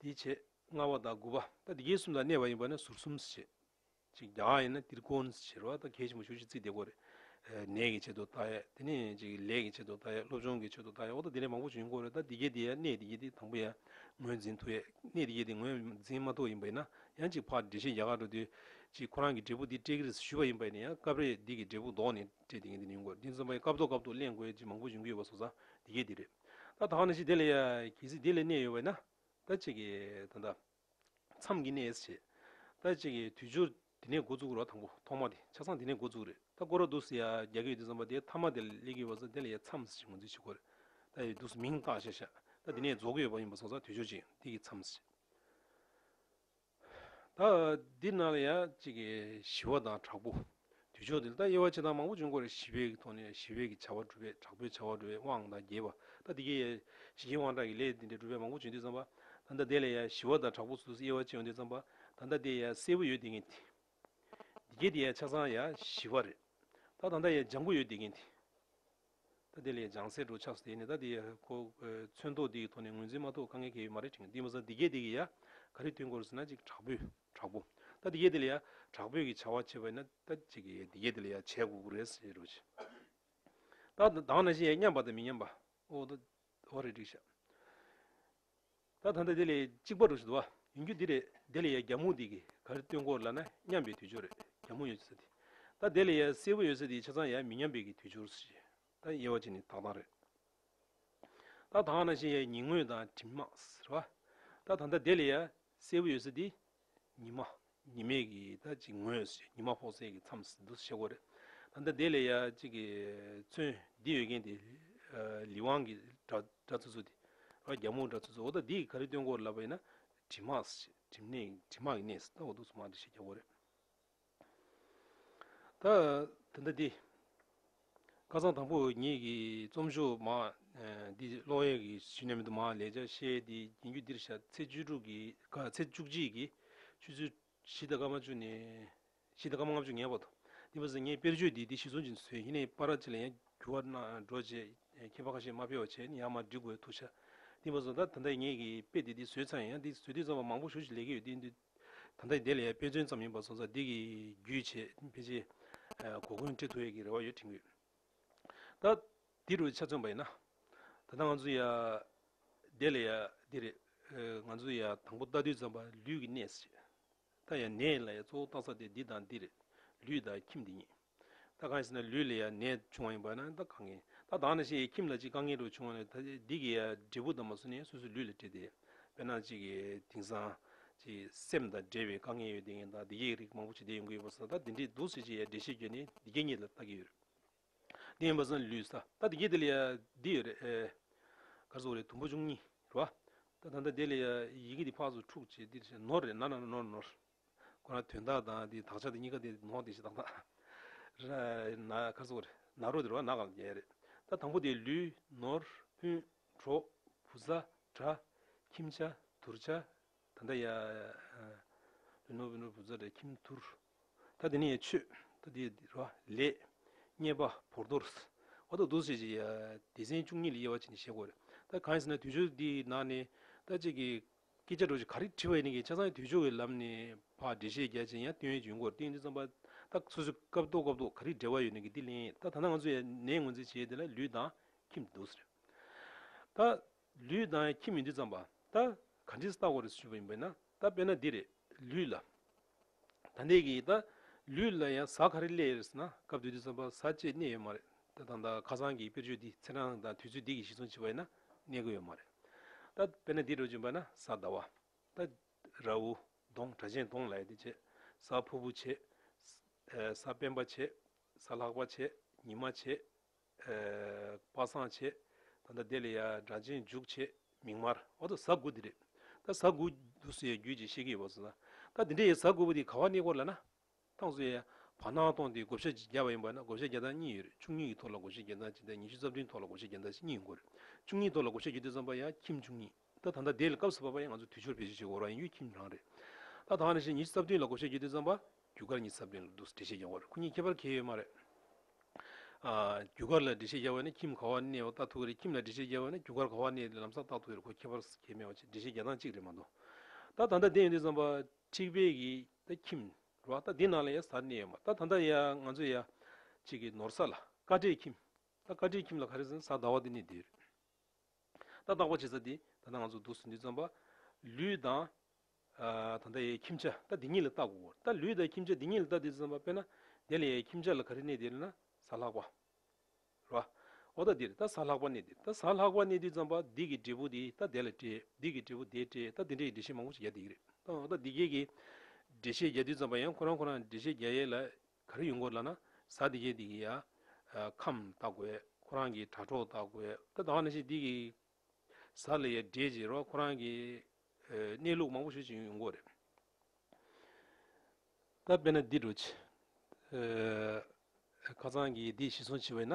འདིའི་ཕྱེད་ལྔ་བ་དང་དགུ་བ་དང་དེ་གའི་གསུམ་དང་གནས་པ་ཡིན་པ་ནི་ཟུར་གསུམ་ཟེར། ཕྱེད་གཅིག་གྱ་ཡིན་ན་དིར་ཀོན་ཟེར་བ་དང་གལ་ཆེན་པོ་ཞུགས་ཤིག་ཚིག་དེ་གོ་རེ། ནས་ཀྱི་ཕྱེད་དུ་ད་ཡས་དེ་ནས་ཀྱི་ལས་ཀྱི་ཕྱེད་དུ་ད་ཡས་སློབ་སྦྱོང་གི་ཕྱེད་དུ་ད་ཡས་འོག་ཏུ་དེ་ལས་མང་པོ་ཞིག་ཡིན་གོ་རེ་ད་དེ་གའི་དེ་ཡས་གནས་དེ་གའི་དེ་དང་པོ་ཡས་ངོས་འཛིན་དུ་ཡས་གནས་དེ་གའི་དེ་ངོས་འཛིན་མ་ཐོག་ཡིན་པ་ཡིན་ན་ཡང་ཅིག་ཕག་འགྲེལ་ཤེས་རྒྱ་གར་དུ་དུས་ཅིག་ཁོ་རང་གི་འབྲས་བུ་འདི་སྤྲད་ཀིར་ཞུས་པ་ཡིན་པ་ཡིན་ན་ཡང་སྐབས་རེ་འདི་གི་འབྲས་བུ་ལྡོག་ནས་སྤྲད་དེ་གའི་དེ་ཡིན་གོ་རེ་འདི་ཚང་མ་ཡི་སྐབས་ཐོག་སྐབས་ཐོག་གླེང་དགོས་ཅིག་མང་པོ་ཞིག་འགུལ་ཡོད་པ་སོགས་ས་དེ་གའི་དེ་རེད། ད་དག་ན་ཅི་དེ་ལ་ཡ། གལ་སྲིད་དེ་ལས་གནས་ཡོད་བས་ན། ད་ཅིག་གི། ད་ད། མཚམས་ཀྱི་གནས་སུ་བྱེད། ད་ཅིག་གི་དུས་སྦྱོར། དེ་ནས་འགོ་བཙུགས་རོགས་དང་པོ་ཐོག་མ་དེ་ཆ་ཚང་དེ་ནས་འགོ་བཙུགས་རེད་ད་བསྐོར་རོགས་འདུག་སི་ཡ་རྒྱ་གི་ཡོད་དུས་ཙམ་པ་དེ་མཐའ་མ་དེ་ལ་ལས་གི་ཡོད་པ་ཟ་དེ་ལ་ཡ་མཚམས་སུ་ཅིག་ངོས་འཛིན་བྱེད་དགོས་རེད་ད་ཡོད་དུས་སུ་མིང་བཏགས་བྱས་ཤག་ད་དེ་ནས་རྫོགས་གི་ཡོད་པ་ཡིན་པ་ཟོ་ས་དུས་སྦྱོར་ཅིག་དེ་གི་མཚམས་སུ་ཅིག། ད་འདི་ནང་ལ་ཡང་གཅིག་གི་ཞི་བ་དང་དྲག་པོ། དུས་ཕྱོགས་འདི་ལ་ད་དབྱེ་བ་ཆེ་ཐང་མང་པོ་བྱུང་སྐོར་རེ་ཞི་བའི་གི་ཐོག་ནས་ཞི་བའི་གི་བྱ་བ་སྒྲུབ་པའི་དྲག་པོའི་བྱ་བ་སྒྲུབ་པའི་དབང་དང་རྒྱས་པ། ད་འདི་གི་ཡང་ཞི་རྒྱས་དབང་དྲག་གི་ལས་འདི་འདྲའི་སྒྲུབ་པའི་མང་པོ་བྱུང་དུས་བརྩམས་པ། ད་ད་འདི་ལ་ཡང་ཞི་བ་དང་དྲག་པོ་སོ་སོའི་དབྱེ་བ་ཅི་ཡོང་དུས་བརྩམས་པ། ད་ད་འདི་ཡང་གསལ་བོ་ཡོད་དེ་ངེས། འདི་གའི་དེ་ཡའི་ཆ་ཚང་ཡ་བཞི་བ་རེད། ད་དང་ད་ཡའི་ལྗང་ཁུ་ཡོད་དེ་གིན་དེ། ད་དེ་ལས་ལྗང་སེར་འགྲོ་ཆགས་སུ་དེ་ནི་ད་དེ་ཡའི་ཁོ་ཚོན་ཐོག་དེ་གི་ཐོག་ནས་ངོས་འཛིན་མ་ཐོག་དཀའ་ངལ་གལ་ཡོད་མ་རེད་དྲན་གི་འདི་མ་ཟད་འདི་གའི་དེ་གི་ཡ་ག་རི་ཐོན་སྐོར་ཟེར་ན་ཅིག་དྲག་པོས་དྲག་པོ། ད་འདི་གའི་དེ་ལས་ཡ་དྲག་པོས་གི་བྱ་བ་བྱེད་པ་ཡིན་ན་ད་ཅིག་གི་འདི་གའི་དེ་ལས་ཡ་བྱས་དགོས་ཀི་རེད་ཟེར་རོ་ཞེས། ད་དང་ན་བཞིན་ཡ་མཉམ་པ་དང་མི་མཉམ་པ་ཨོ་ད་ཨོ་རེད་འགྲིག་ཤག། ད་ད་ལྟ་དེ་ལས་གཅིག་པར་འགྲོ་བཞིན་འདུག་བ། ཡིན་རྒྱུ་འདི་རེད་དེ་ལས་ཡ་རྒྱ་མོ་འདི་གི་ག་རེ་སྟོན་སྐོར་ལ་ན་མཉམ་པའི་དུས་སྦྱོར་རེད་རྒྱ་མོ་ཡོད་ས་དེ། ད་དེ་ལས་ཡ་སེར་བོ་ཡོད་ས་དེ་ཆ་ཚང་ཡ་མི་མཉམ་པའི་གི་དུས་སྦྱོར་ས་ཞེ། ད་ཡ་བ་ཅིག་ནི་དག་དང་རེད། ད་དག་ན་ཞེ་ཡ་ཉིན་དངོས་དང་གྲིམ་དམག་ཟེར་བ། ད་ད་ད་དེ་ལས་ཡ་སེར་བོ་ཡོད་ས་དེ་ཉི་མ་ཉི་མས་ཀྱི་ད་ཅིག་ངོས་ཞེས་ཉི་མ་ཕོག་ཚད་ཀྱི་མཚམས་སུ་འདུག་ཤེལ་སྒོ་རེད། ད་ལྟ་དེ་ལས་ཡ་གཅིག་གི་ཚོན་འདི་ཡོད་མཁན་དེ་ལི་ཝང་གི་སྒྲ་འདྲ་ཚུ་ཚུ་དེ། རོ་རྒྱ་མོ་འདྲ་ཚུ་ཚུ་འོ་ད་འདིས་ག་རེ་སྟོན་སྐོར་ལབ་པ་ཡིན་ན་གྲིབ་མག་གྲིབ་གྲིབ་མག་གི་གནས་སུ་ལྟ་བ་འདུག་ཚུ་མག་འདྲ་ཤེས་རྒྱ་སྒོ་རེད། དེ་འདྲ་དེ། བཀའ་གཙང་དང་པོ་ཉིད་ཀྱི་རྩོམ་ཤོག་མ། འདི་ཀློག་ཡས་ཀྱི་ཞི་གནས་མི་དུ་མ་ལས་ཆ་ཤས་དེ་རྒྱུན་བརྒྱུད་འདིར་བཞག་ཚེས་བཅུ་དྲུག་གི་ཚེས་བཅུ་གཅིག་གི་ཆུ་ཚོད་བཞི་དང་སྐར་མ་བཅུ་ནས་བཞི་དང་སྐར་མ་ལྔ་བཅུ་ངེས་པར་དུ་འདི་མ་ཟད་ངས་དཔེར་བརྗོད་འདི་དེ་ཞིག་ཟུང་ཅིག་ཟོས་ཧི་ནའི་པ་ར་ཅི་ལ་ཡང་འགྱུར་བ་གནང་འགྲོ་རྗེས་མཁས་པ་ཁ་ཤས་མ་ཕེབས་བ་བྱས་ནས་ཡང་མར་འབྲི་དགོས་ཐུག་ཆ་འདི་མ་ཟོས་ད་ད་ལྟ་ངས་ཀྱི་དཔེ་དེ་དེ་ཟོས་ཚར་ཡང་འདི་ཟོས་དུས་ཚང་བ་མང་པོ་ཞུ་ཞིག་ལས་ཀྱི་ཡོད་དེ་འདི་ད་ལྟ་དེ་ལས་དཔེ་མཚོན་ཙམ་ཡིན་པར་སོང་ཚར་འདི་གི་རྒྱུད་ཆེས་ཕལ་ཆེ། གོ་བསྐོན་བཀྲི་ཐུབ་ཡོད་ཀྱི་རེ་བ་ཡོད་དྲན་གི། ད་འདི་རུ་ཆ་མཚོན་པ་ཡིན་ན། ད་ལྟ་ང་ཚོ་ཡ། དེ་ལས་ཡ་འདི་རེད། ང་ཚོ་ཡ་དང་པོ་རྟ་བདུད་ཙམ་པ་ལུས་ཀྱི་གནས། ད་ཡ་ནས་ལ་ཡ་གཙོ་བོ་བཏགས་ས་དེ་འདི་དང་འདི་རེད། ལུས་དང་ཁྱིམ་འདི་གཉིས། ད་གང་ཡིན་ཟེར་ན་ལུས་ལ་ཡང་ནད་བྱུང་བ་ཡིན་པ་ན་ད་གང་ཡིན། ད་དང་ན་ཞེས་ཡིད་ཁྱིམ་ལ་ཅིག་དཀའ་ངལ་དྲུག་བྱུང་བ་ན་ད་འདི་གི་འབྲས་བུ་དང་མ་སུ་ནི་སོ་སོའི་ལུས་ལ་འབྲེལ་ཏེ། དཔེར་ན་ཅིག་གི་དིང་སང། ཅིག་སེམས་དང་འབྲེལ་བའི་དཀའ་ངལ་ཡོད་དེ་ངས་ད་བདེ་སྐྱིད་རིགས་མང་པོ་ཇི་ལྟར་ཡོང་གི་ཡོད་པ་ཟེར་ན་ད་འདི་འདྲའི་སྡུག་ཟེར་ཅིག་ཡ་འདྲེ་ཤེས་རྒྱུ་ནི་འདི་སྐད་ཉིད་ལ་བལྟ་གི་ཡོད། འདི་ཡིན་པ་ཟེར་ན་ལུས་ས་ད་འདི་སྐད་འདི་ལ་ཡ་འདི་ཡོད་རེད། གར་སོང་རེད་དུམ་བུ་བཅུ་གཉིས་རེད་བ། ད་ད་ད་འདི་ལ་ཡ་ཡི་གེ་འདི་ཕག་སོ་ཕྲུག་ཅེས་འདི་ནོར་རེད་ན་ན་ནོར་ནོར། ཁོ་རང་དོན་དག་དང་དེའི་དག་ཆ་དེ་གཉིས་ཀ་དེ་ནོག་དེ་ཞེ་སྡང་དག། ཁར་སོགས་རེད། ནག་རོ་དེ་རོ་ནག་གམ་རྒྱལ་རེད། ད་དང་པོ་དེ་ལུས། ནོར། ཕུན། གྲོགས། བུ་བཟའ། དགྲ། ཁྱིམ་བྱ། དུར་བྱ། ད་ལྟ་ཡ། ལུས། ནོར། ཕུན། གྲོགས། བུ་བཟའ། དགྲ། ཁྱིམ། དུར། ད་དེ་ནི་ཡ། ཆོས། ད་དེ། རོ། ལས། རྙེད། པ། བོར། རྡོར། བ། དོ། དུ། ཞེས། ཡ། སྡེ། ཚན། བཅུ་གཉིས་ལས་དབྱེ་བ་བྱས་ནས་བཤད་དགོས། ད་གང་ཡིན་ཟེར་ན་དུས་སྦྱོར་འདིའི་ནང་ནས། ད། གཅིག་གིས། སྐད་ཆ་འགྲོ་ཞིག་ག་རེ་དྲི་བ་ཡིན་ནི་གི་ཆ་ཚང་གི་དུས་ཕྱོགས་ཀྱི་ལམ་ནས་བག་འགྲེལ་བཤད་རྒྱ་ཅན་ཡང་སྟོན་བྱུང་སྐོར་ཏིང་ཏིང་རྩོམ་པ་ད་སོ་སོའི་སྐབས་ཐོག་སྐབས་ཐོག་ག་རེ་འབྲེལ་བ་ཡོད་ནི་གི་དེ་ལན་ད་ད་ནང་ང་ཚོ་ཡང་ནས་ངོས་འཛིན་བྱས་དེ་ལ་ལུས་འདང་ཁྱིམ་འདུག་ཟེར། ད། ལུས་འདང་ཡང་ཁྱིམ་མི་འདུག་བརྩམས་པ། ད། ག་འདྲི་ས་ལྟ་གོ་རེ་ཟེར་ཞུས་པ་ཡིན་པས་ན་ད་དཔེར་ན་འདི་རེད། ལུས་ལ། ད་ནད་ཀྱི་ད་ལུས་ལ་ཡང་གཟའ་ག་རེ་སླེ་ཡོད་ཟེར་ན་སྐབས་དུས་དུས་ཙམ་པར་གཟའ་བཅས་གནས་ཡོད་མ་རེད་ད་ད་ད་ཁ་སང་གི་དཔེར་བརྗོད་འདི་ཚེ་འབྲང་དང་དུས་ཚོད་འདི་གི་གཞི་ཚུན་བྱེད་པ་ཡིན་ན་གནས་དགོས་ཡོད་མ་རེད་ད་དཔེར་ན་འདི་འགྲོ་གྱིན་པ་ན་གཟའ་ཟླ་བ་ད་ར་འུ་གདོང་གྲ་ཆེན་གདོང་ལ་ཡོད་དེ་བྱེད་གཟའ་ཕུར་བུ་བྱེད། གཟའ་སྤེན་པ་བྱེད། གཟའ་ལྷག་པ་བྱེད་ཉི་མ་བྱེད། པ་སངས་བྱེད། ད་ལྟ་དེ་ལས་ཡར་སྒྲ་འབྱིན་འཇུག་བྱེད་མིང་མར། འོ་ད་ཟ་དགུ་འདི་རེད། ད་ཟ་དགུ། དུ་སུ་ཡའི་རྒྱུད་ཅེས་བཤད་ཀྱི་ཡོད་པ་སོང་ས། ད་འདི་འདྲ་ཡི་ཟ་དགུ་པོ་འདི་ག་བ་གནས་སྐོར་ལ་ན། ཐང་སུ་ཡའི་བར་སྣང་སྟོང་འདི་བགོ་བཤའ་བརྒྱ་པ་ཡིན་པ་ན་བགོ་བཤའ་བརྒྱ་སྟངས་གཉིས་ཡོད་རེད་བཅུ་གཉིས་ཀྱི་ཐོག་ལ་བགོ་བཤའ་བརྒྱ་སྟངས་གཅིག་དང་ཉི་ཤུ་རྩ་བདུན་ཐོག་ལ་བགོ་བཤའ་བརྒྱ་སྟངས་གཉིས་ཡིན་དགོས་རེད་བཅུ་གཉིས་ཐོག་ལ་བགོ་བཤའ་བརྒྱུད་དེ་བརྩམས་པ་ཡང་ཁྱིམ་བཅུ་གཉིས། ད་ད་ལྟ་དེ་ལས་སྐབས་སུ་བབས་པ་ཡིན་ང་ཚོ་དུས་ཕྱུར་བེད་སྤྱོད་བྱེད་དགོས་ར་ཡིན་ཡུལ་ཁྱིམ་རང་རེད། ད་ད་ནས་བཞིན་ཉིན་གཅིག་རྩ་བདུན་ལ་བགོ་བཤའི་རྒྱུ་དེ་བརྩམས་པ། རྒྱུ་སྐར་གཉིས་རྩ་བདུན་ལ་འདུག་ཟེར་འགྲེལ་བཤད་རྒྱག་པར་ཁོ་གཉིས་ཁྱད་པར་གྱེས་ཡོད་མ་རེད། རྒྱུ་སྐར་ལ་འགྲེལ་བཤད་རྒྱག་བས་ན་ཁྱིམ་ག་བ་གནས་བ་བརྟག་ཐུབ་ཀྱི་རེད་ཁྱིམ་ལ་འགྲེལ་བཤད་རྒྱག་བས་ན་རྒྱུ་སྐར་ག་བ་གནས་ཏེ་ལམ་སང་བརྟག་ཐུབ་ཀྱི་རེད་ཁོ་ཁྱད་པར་གྱེས་མེད་བ་ཅེས་འགྲེལ་བཤད་རྒྱག་སྟངས་གཅིག་རེད་མ་གཏོགས། ད་ད་ལྟ་དེ་ཡོད་དུས་བརྩམས་པ། ཁྲིག་བེད་ཀྱི་ད་ཁྱིམ། རེད་བ་ད་དེ་ནང་ལ་ཡ་གཟར་གནས་ཡོད་མ་ད་ད་ལྟ་ཡ་ང་ཚོ་ཡ། ཅིག་གི་ནོར་ས་ལ། ཀ་བྲེའི་ཁྱིམ། ད་ཀ་བྲེའི་ཁྱིམ་ལ་ག་རེ་ཟེར་ན་གཟར་ཟླ་བ་དེ་གནས་དེ་རེད། ད་བརྟག་པ་བྱེད་ས་འདི་ད་ལྟ་ང་ཚོ་འདུག་ཟིན་དུས་རྩམ་པ། ལུས་དང། ད་ལྟ་ཡའི་ཁྱིམ་བྱ་ད་འདི་གཉིས་ལ་བལྟ་དགོས། ད་ལུས་དང་ཁྱིམ་བྱ་འདི་གཉིས་ལ་བལྟ་དུས་རྩམ་པ་དཔེར་ན། དེ་ལ་ཡའི་ཁྱིམ་བྱ་ལ་ག་རེ་གནས་དེ་ལ་ན་ཟ་ལྷག་པ། རེད་པ། འོ་ད་འདིར་ད་ཟ་ལྷག་པ་གནས་འདིར་ད་ཟ་ལྷག་པ་གནས་དུས་རྩམ་པ་འདི་གི་འབྲས་བུ་འདི་ད་དེ་ལ་སྤྲད་འདི་གི་འབྲས་བུ་དེ་སྤྲད་ད་འདི་འདྲ་ཡི་འགྲེལ་བཤད་མང་པོ་ཞིག་རྒྱག་འདི་གི་རེད། འོ་ད་འདི་སྐད་ཀྱི་འགྲེལ་བཤད་རྒྱག་དུས་རྩམ་པ་ཡང་ཁོ་རང་ཁོ་རང་འགྲེལ་བཤད་རྒྱག་ཡས་ལ་ག་རེ་ཡོད་འགོ་ལ་ན་ཟ་འདི་བྱེད་འདི་གི་ཡ། ཁམས་ལྟ་དགོས་ཁོ་རང་གི་དྲ་གྲོགས་ལྟ་དགོས་ད་ད་བ་ན་ཤེས་འདི་གི། ཟ་ལ་ཡ་འདྲེས་བྱེད་རོགས་ཁོ་རང་གི། གནས་ལུགས་མང་པོ་ཤོད་བྱེད་ཡོད་འགོ་རེད། ད་དཔེ་ན་འདི་འགྲོ་བྱེད། ཁ་ཚང་གི་འདི་ཤི་སོང་བྱེད་བས་ན།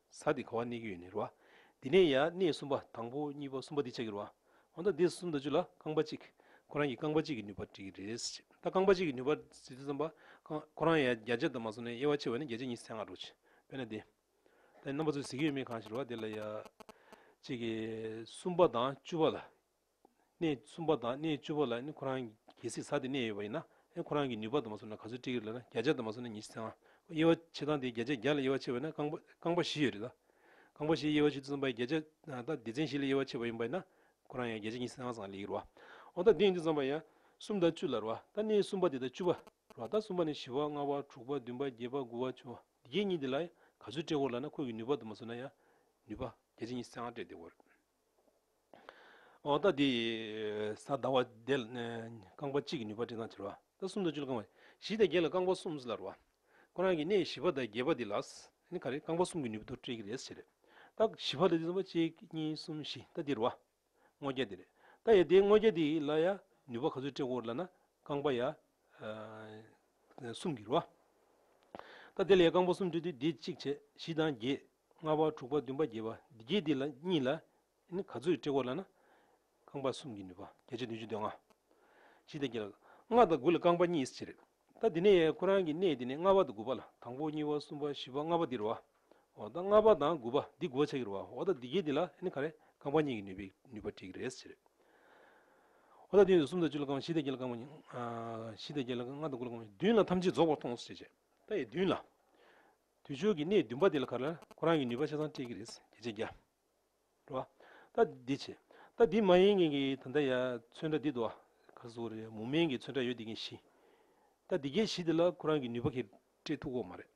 ས་སྟེ་ག་བ་གནས་ཀྱི་ཡོད་ནི་རུ་བ། འདི་ནས་ཡང་གནས་གསུམ་པ་དང་པོ་གཉིས་པ་གསུམ་པ་འདི་ཆགས་ཀྱི་རུ་བ། འོ་ན་འདི་གསུམ་དང་བཅུ་ལ་རྐང་པ་གཅིག། ཁོ་རང་གི་རྐང་པ་གཅིག་གི་ནུས་པར་བྲིས་ཀྱི་རེད། ད་རྐང་པ་གཅིག་གི་ནུས་པར་ཟེར་དུས་བསམ་པ། ཁོ་རང་ཡང་བརྒྱ་ཆ་དུ་མ་བཟུང་ནས་དབྱེ་བ་ཕྱེ་བ་ནི་བརྒྱ་ཆ་གཉིས་སེ་ལྔ་རུ་ཆེ། དཔེར་ན་འདི། ད་ནི་རྣམ་པ་ཚོས་ཟེར་གྱི་ཡོད་མེད་གང་ཞིག་རུ་བ་དེ་ལ་ཡང། གཅིག་གིས་གསུམ་པ་དང་བཅུ་བ་ལ། གནས་གསུམ་པ་དང་གནས་བཅུ་པ་ལ་ནི་ཁོ་རང་གི་སྲིད་ས་དེ་གནས་ཡོད་པ་ཡིན་ན། ཁོ་རང་གི་ནུས་པ་དང་མ་སོ་ན་ག་ཚོད་སྤྲད་ཀྱི་རེད་ལ་བརྒྱ་ཆ་དང་མ་སོ་ན་ཉིས་བརྒྱ་ཚན་དབྱེ་བ་ཕྱེ་སྟངས་དེ་བརྒྱ་ཆ་བརྒྱ་ལ་དབྱེ་བ་ཕྱེ་བ་ཡིན་ན་རྐང་པ་རྐང་པ་བཞི་ཡོད་རེད་ལ། རྐང་པ་བཞི་དབྱེ་བ་ཕྱེ་དུས་ཙམ་པ་བརྒྱ་ཆ་ད་སྡེ་ཚན་བཞི་ལ་དབྱེ་བ་ཕྱེ་བ་ཡིན་པ་ཡིན་ན་ཁོ་རང་ཡང་བརྒྱ་ཆ་ཉིས་བརྒྱ་ཚན་ཙམ་ལས་ཀྱི་རེད་བ། འོ་ད་འདི་ཡིན་དུས་ཙམ་པ་ཡང་གསུམ་དང་བཅུ་ལ་རེད་བ་ད་གནས་གསུམ་པ་དེ་དང་བཅུ་བ་རེད་བ་ད་གསུམ་པ་ནས་བཞི་བ་ལྔ་བ་དྲུག་པ་བདུན་པ་བརྒྱད་པ་དགུ་བ་བཅུ་བ་འདི་བརྒྱད་གཉིས་དེ་ལ་ཡང་ག་ཚོད་སྤྲད་དགོས་ལ་ན་ཁོ་གི་ནུས་པ་དང་མ་སོ་ན་ཡང་ནུས་པ་བརྒྱ་ཆ་ཉིས་བརྒྱ་ཚན་ལྔ་སྤྲད་བསྡད་དགོས་རེད། འོ་ད་དེ། ས་བདག་བ་བདེ། རྐང་པ་གཅིག་གི་ནུས་པ་ཅི་དང་བྱར་བ། ད་གསུམ་དང་བཅུ་ལ་རྐང་བ། བཞི་དང་བརྒྱད་ལ་རྐང་པ་གསུམ་ཟེར་ལ་རོ། ཁོ་རང་གི་གནས་བཞི་པ་དང་བརྒྱད་པ་དེ་ལ། ནི་ག་རེ་རྐང་པ་གསུམ་གྱི་ནུས་པ་དུ་སྤྲད་ཀྱི་རེད་ཟེར་རེད། ད་བཞི་བ་ལ་དེ་ཙམ་པ་གཅིག་གཉིས་གསུམ་བཞི་ད་དེ་རོ། སྔོ་སྐྱ་དེ་རེད། ད་ཡ་དེ་སྔོ་སྐྱ་དེ་ལ་ཡ་ནུས་པ་ག་ཚོད་སྤྲད་དགོས་རེད་ལ་ན། རྐང་པ་ཡ། གསུམ་གྱི་རོ། ད་དེ་ལ་ཡ་རྐང་པ་གསུམ་སྤྲད་དུས་དེ་གཅིག་བྱས་བཞི་དང་བརྒྱད། ལྔ་པ་དྲུག་པ་བདུན་པ་བརྒྱད་པ་འདི་བརྒྱད་འདི་ལ་གཉིས་ལ། ནི་ག་ཚོད་དཀྲི་བ་ལ་ན། རྐང་པ་གསུམ་གྱི་ནུས་པ་བརྒྱད་ཅུ་བདུན་ཅུ་དོན་ལྔ། བཞི་དང་བརྒྱད་ལ། ལྔ་དང་དགུ་ལ་རྐང་པ་གཉིས་ཕྱེད་རེ། ད་འདི་ནས་ཡང་ཁོ་རང་གི་གནས་འདི་ནས་ལྔ་པ་དང་དགུ་པ་ལ་དང་པོ་གཉིས་པ་གསུམ་པ་བཞི་པ་ལྔ་པ་འདི་རུ་བ། འོ་ད་ལྔ་པ་དང་དགུ་པ་འདི་དགུ་བ་ཕྱེད་ཀྱི་རུ་བ་འོ་ད་འདི་བརྒྱད་འདི་ལ་ནི་ག་རེ་རྐང་པ་གཉིས་ཀྱི་ནུས་པའི་ནུས་པ་དྲིག་རེ་ཕྱེད་རེ། འོ་ད་དེ་ཡོད་དུ་གསུམ་དང་བཅུ་ལ་རྐང་པ་བཞི་དང་བརྒྱད་ལ་རྐང་པ་གཉིས། བཞི་དང་བརྒྱད་ལ་ལྔ་དང་དགུ་ལ་རྐང་པ་བདུན་ལ་ཐམས་ཅད་རྫོགས་པར་མཐོང་ཟེར་བྱས། ད་ཡི་བདུན་ལ། དུས་ཆོས་ཀྱི་གནས་བདུན་པ་འདི་ལ་ཁ་ལ་ཁོ་རང་གི་ནུས་པ་ཆ་ཚང་སྤྲད་ཀྱི་རེད་ཟེར་གྱི་བྱས་རྒྱ། འགྲོ། ད་འདི་བྱས། ད་འདི་མ་ཡིན་ངེད་ཀྱི་ད་ལྟ་ཡ་ཚོན་ཁྲ་འདི་འདུག་ཨ། ག་རེ་ཟུག་རེད་མུ་མེན་གྱི་ཚོན་ཁྲ་ཡོད་འདི་ཀྱི་བཞི། ད་འདི་གའི་བཞི་འདི་ལ་ཁོ་རང་གི་ནུས་པ་ཁེ་སྤྲད་ཐུག་གོ་མ་རེད།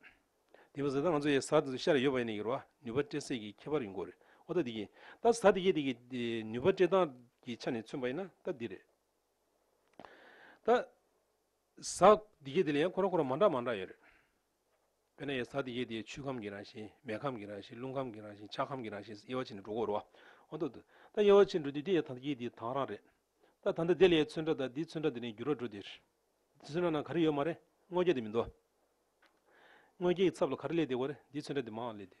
འདི་བཟོས་ད་ང་ཚོ་ཡ་ཟ་འདི་ཚོ་ཤར་ཡོད་པ་ཡིན་ནི་ཀྱི་རོ་ཨ་ནུས་པ་སྤྲད་སད་ཀྱི་ཁྱད་པར་ཡོང་གོ་རེད་ཨོ་ད་འདི་གའི། ད་ཟ་འདི་གའི་འདི་ཀྱི་ནུས་པ་སྤྲད་སྟངས་ཀྱི་ཆ་ནས་མཚོན་པ་ཡིན་ན་ད་འདི་རེད། ད་ཟ་འདི་གའི་འདི་ལ་ཡང་ཁོ་རང་ཁོ་རང་མ་འདྲ་མ་འདྲ་ཡོད་རེད། དཔེར་ན་ཡེ་སྲ་ཏི་ཡེ་དེ་ཆུའི་ཁམས་ཀྱི་རང་བཞིན། མེའི་ཁམས་ཀྱི་རང་བཞིན། རླུང་ཁམས་ཀྱི་རང་བཞིན། ཆགས་ཁམས་ཀྱི་རང་བཞིན་སོགས་དབྱེ་བ་ཕྱེ་ནས་འགྲོ་འགོར་རོ། འོ་ད་དོ། ད་དབྱེ་བ་ཕྱེ་འགྲོ་དུས་དེ་ཡི་ད་ལྟ་ཡེ་དེའི་དྭངས་རང་རེད། ད་ད་ལྟ་དེ་ལས་ཚོན་ཁྲ་དང་དེའི་ཚོན་ཁྲ་འདི་ནས་འགྱུར་བ་འགྲོ་འདིར། འདི་ཚོན་ཁྲ་ནང་ག་རེ་ཡོད་མ་རེད་དངོས་བརྒྱ་དེ་མི་འདུག། དངོས་བརྒྱའི་ཚབ་ལ་ག་རེ་སླེབས་དེ་བ་རེད་འདིའི་ཚོན་ཁྲ་འདི་མའང་སླེབས་འདིར།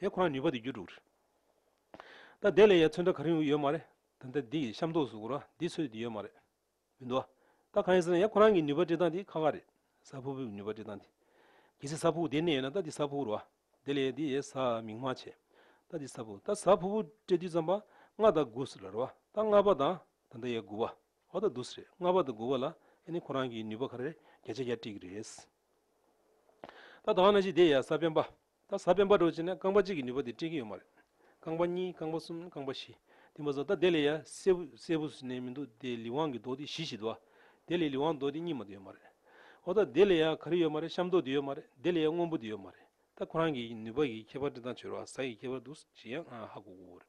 དེ་ཁོ་ན་ནུས་པ་དེ་རྒྱུ་དྲུག། ད་དེ་ལས་ཡ་མཚོན་ད་ག་རིང་ཡོད་མ་རེད་ད་ད་འདི་ཡི་ཤམ་ཐོག་སུ་གུ་ར་འདི་ཚོས་འདི་ཡོད་མ་རེད་མི་འདུག་ཨ། ད་གང་ཡིན་ཟེར་ན་ཡ་ཁོ་རང་གི་ནུས་པ་སྤྲད་སྟངས་འདི་ཁ་ཁ་རེད་ས་ཕུ་ཕུའི་ནུས་པ་སྤྲད་སྟངས་འདི། གལ་སྲིད་ས་ཕུ་དེ་གནས་ཡོད་ན་ད་འདི་ས་ཕུ་རུ་ཨ། དེ་ལས་ཡ་འདི་ཡའི་ས་མིང་མ་བྱས། ད་འདི་ས་ཕུ་ད་ས་ཕུ་ཕུ་སྤྲད་དུས་ཙམ་པ་ལྔ་དང་དགུ་ཟེར་ལ་རུ་ཨ་ད་ལྔ་པ་དང་ད་འདི་ཡའི་དགུ་བ་འོ་ད་འདུག་ཟེར་རེད་ལྔ་པ་དང་དགུ་བ་ལ་ཡ་ནི་ཁོ་རང་གི་ནུས་པ་ག་རེ་རེད་བརྒྱ་ཆ་བརྒྱ་སྤྲད་ཀྱི་རེད། ད་དང་ན་ཅིག་འདི་ཡའི་ས་བེམ་པ་རྟ་ཟ་བེམ་པ་འགྲོ་བྱེད་ན་རྐང་པ་གཅིག་གི་ནུས་པ་དེ་སྤྲད་ཀྱི་ཡོད་མ་རེད། རྐང་པ་གཉིས་རྐང་པ་གསུམ་རྐང་པ་བཞི། དེ་མ་ཟད་རྟ་དེ་ལས་ཡང་སེར་བུ་སེར་བུ་ཟེར་ནས་མི་འདུག་དེ་ལི་ཝང་གི་རྡོ་དེ་བཞི་ཞིག་འདུག་ཨ། དེ་ལས་ལི་ཝང་རྡོ་དེ་གཉིས་མ་དེ་ཡོད་མ་རེད། ཨོ་རྟ་དེ་ལས་ཡང་ག་རེ་ཡོད་མ་རེད་ཤམ་རྡོ་དེ་ཡོད་མ་རེད་དེ་ལས་ཡང་སྔོན་པོ་དེ་ཡོད་མ་རེད། རྟ་ཁོ་རང་གི་ནུས་པ་གི་ཁྱད་པར་འདི་དང་བྱོལ་བ་ཟ་གི་ཁྱད་པར་འདུག་ཞེས་ཡང་ཧ་གོ་གོ་རེད།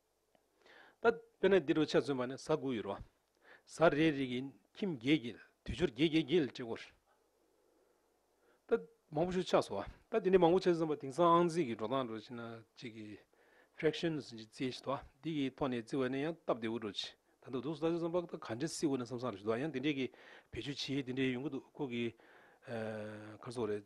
ད་དཔེར་ན་འདི་དྲུག་ཆ་མཚོན་པ་ནི་གཟའ་དགུ་ཡི་རོ། གཟའ་རེའི་རིགས་ཀྱི་ཁྱིམ་བརྒྱད་ཀྱི་དུས་སྦྱོར་བརྒྱད་བརྒྱད་བརྒྱད་ལ་བྲི་བར། ད་མང་པོ་ཞིག་ཆགས་སོ། ད་དེ་འདྲའི་མང་པོ་ཆགས་ཟིན་པ་དེང་སང་ཨང་རྩིས་ཀྱི་འགྲོ་སྟངས་འགྲོ་བྱེད་ན་གཅིག་གི། Fractions། ཞེས་བརྩི་བཞིན་དུ། འདི་ཀྱི་ཐོག་ནས་བརྩི་བ་ནི་ཡང་སྟབས་བདེ་བོ་འགྲོ་བྱེད། ད་འདུག་འདུག་ཟླ་ཚེས་སམ་དཔག་ད་ག་འདྲའི་བསིལ་བོ་ནས་སམ་སང་རེ་ཞུ་དོ། ཡང་འདི་འདྲའི་གི་བེད་སྤྱོད་བྱེད་ཡུལ་འདི་འདྲའི་ཡོང་གི་འདུག་ཁོ་གི། ཁར་སོགས་རེད།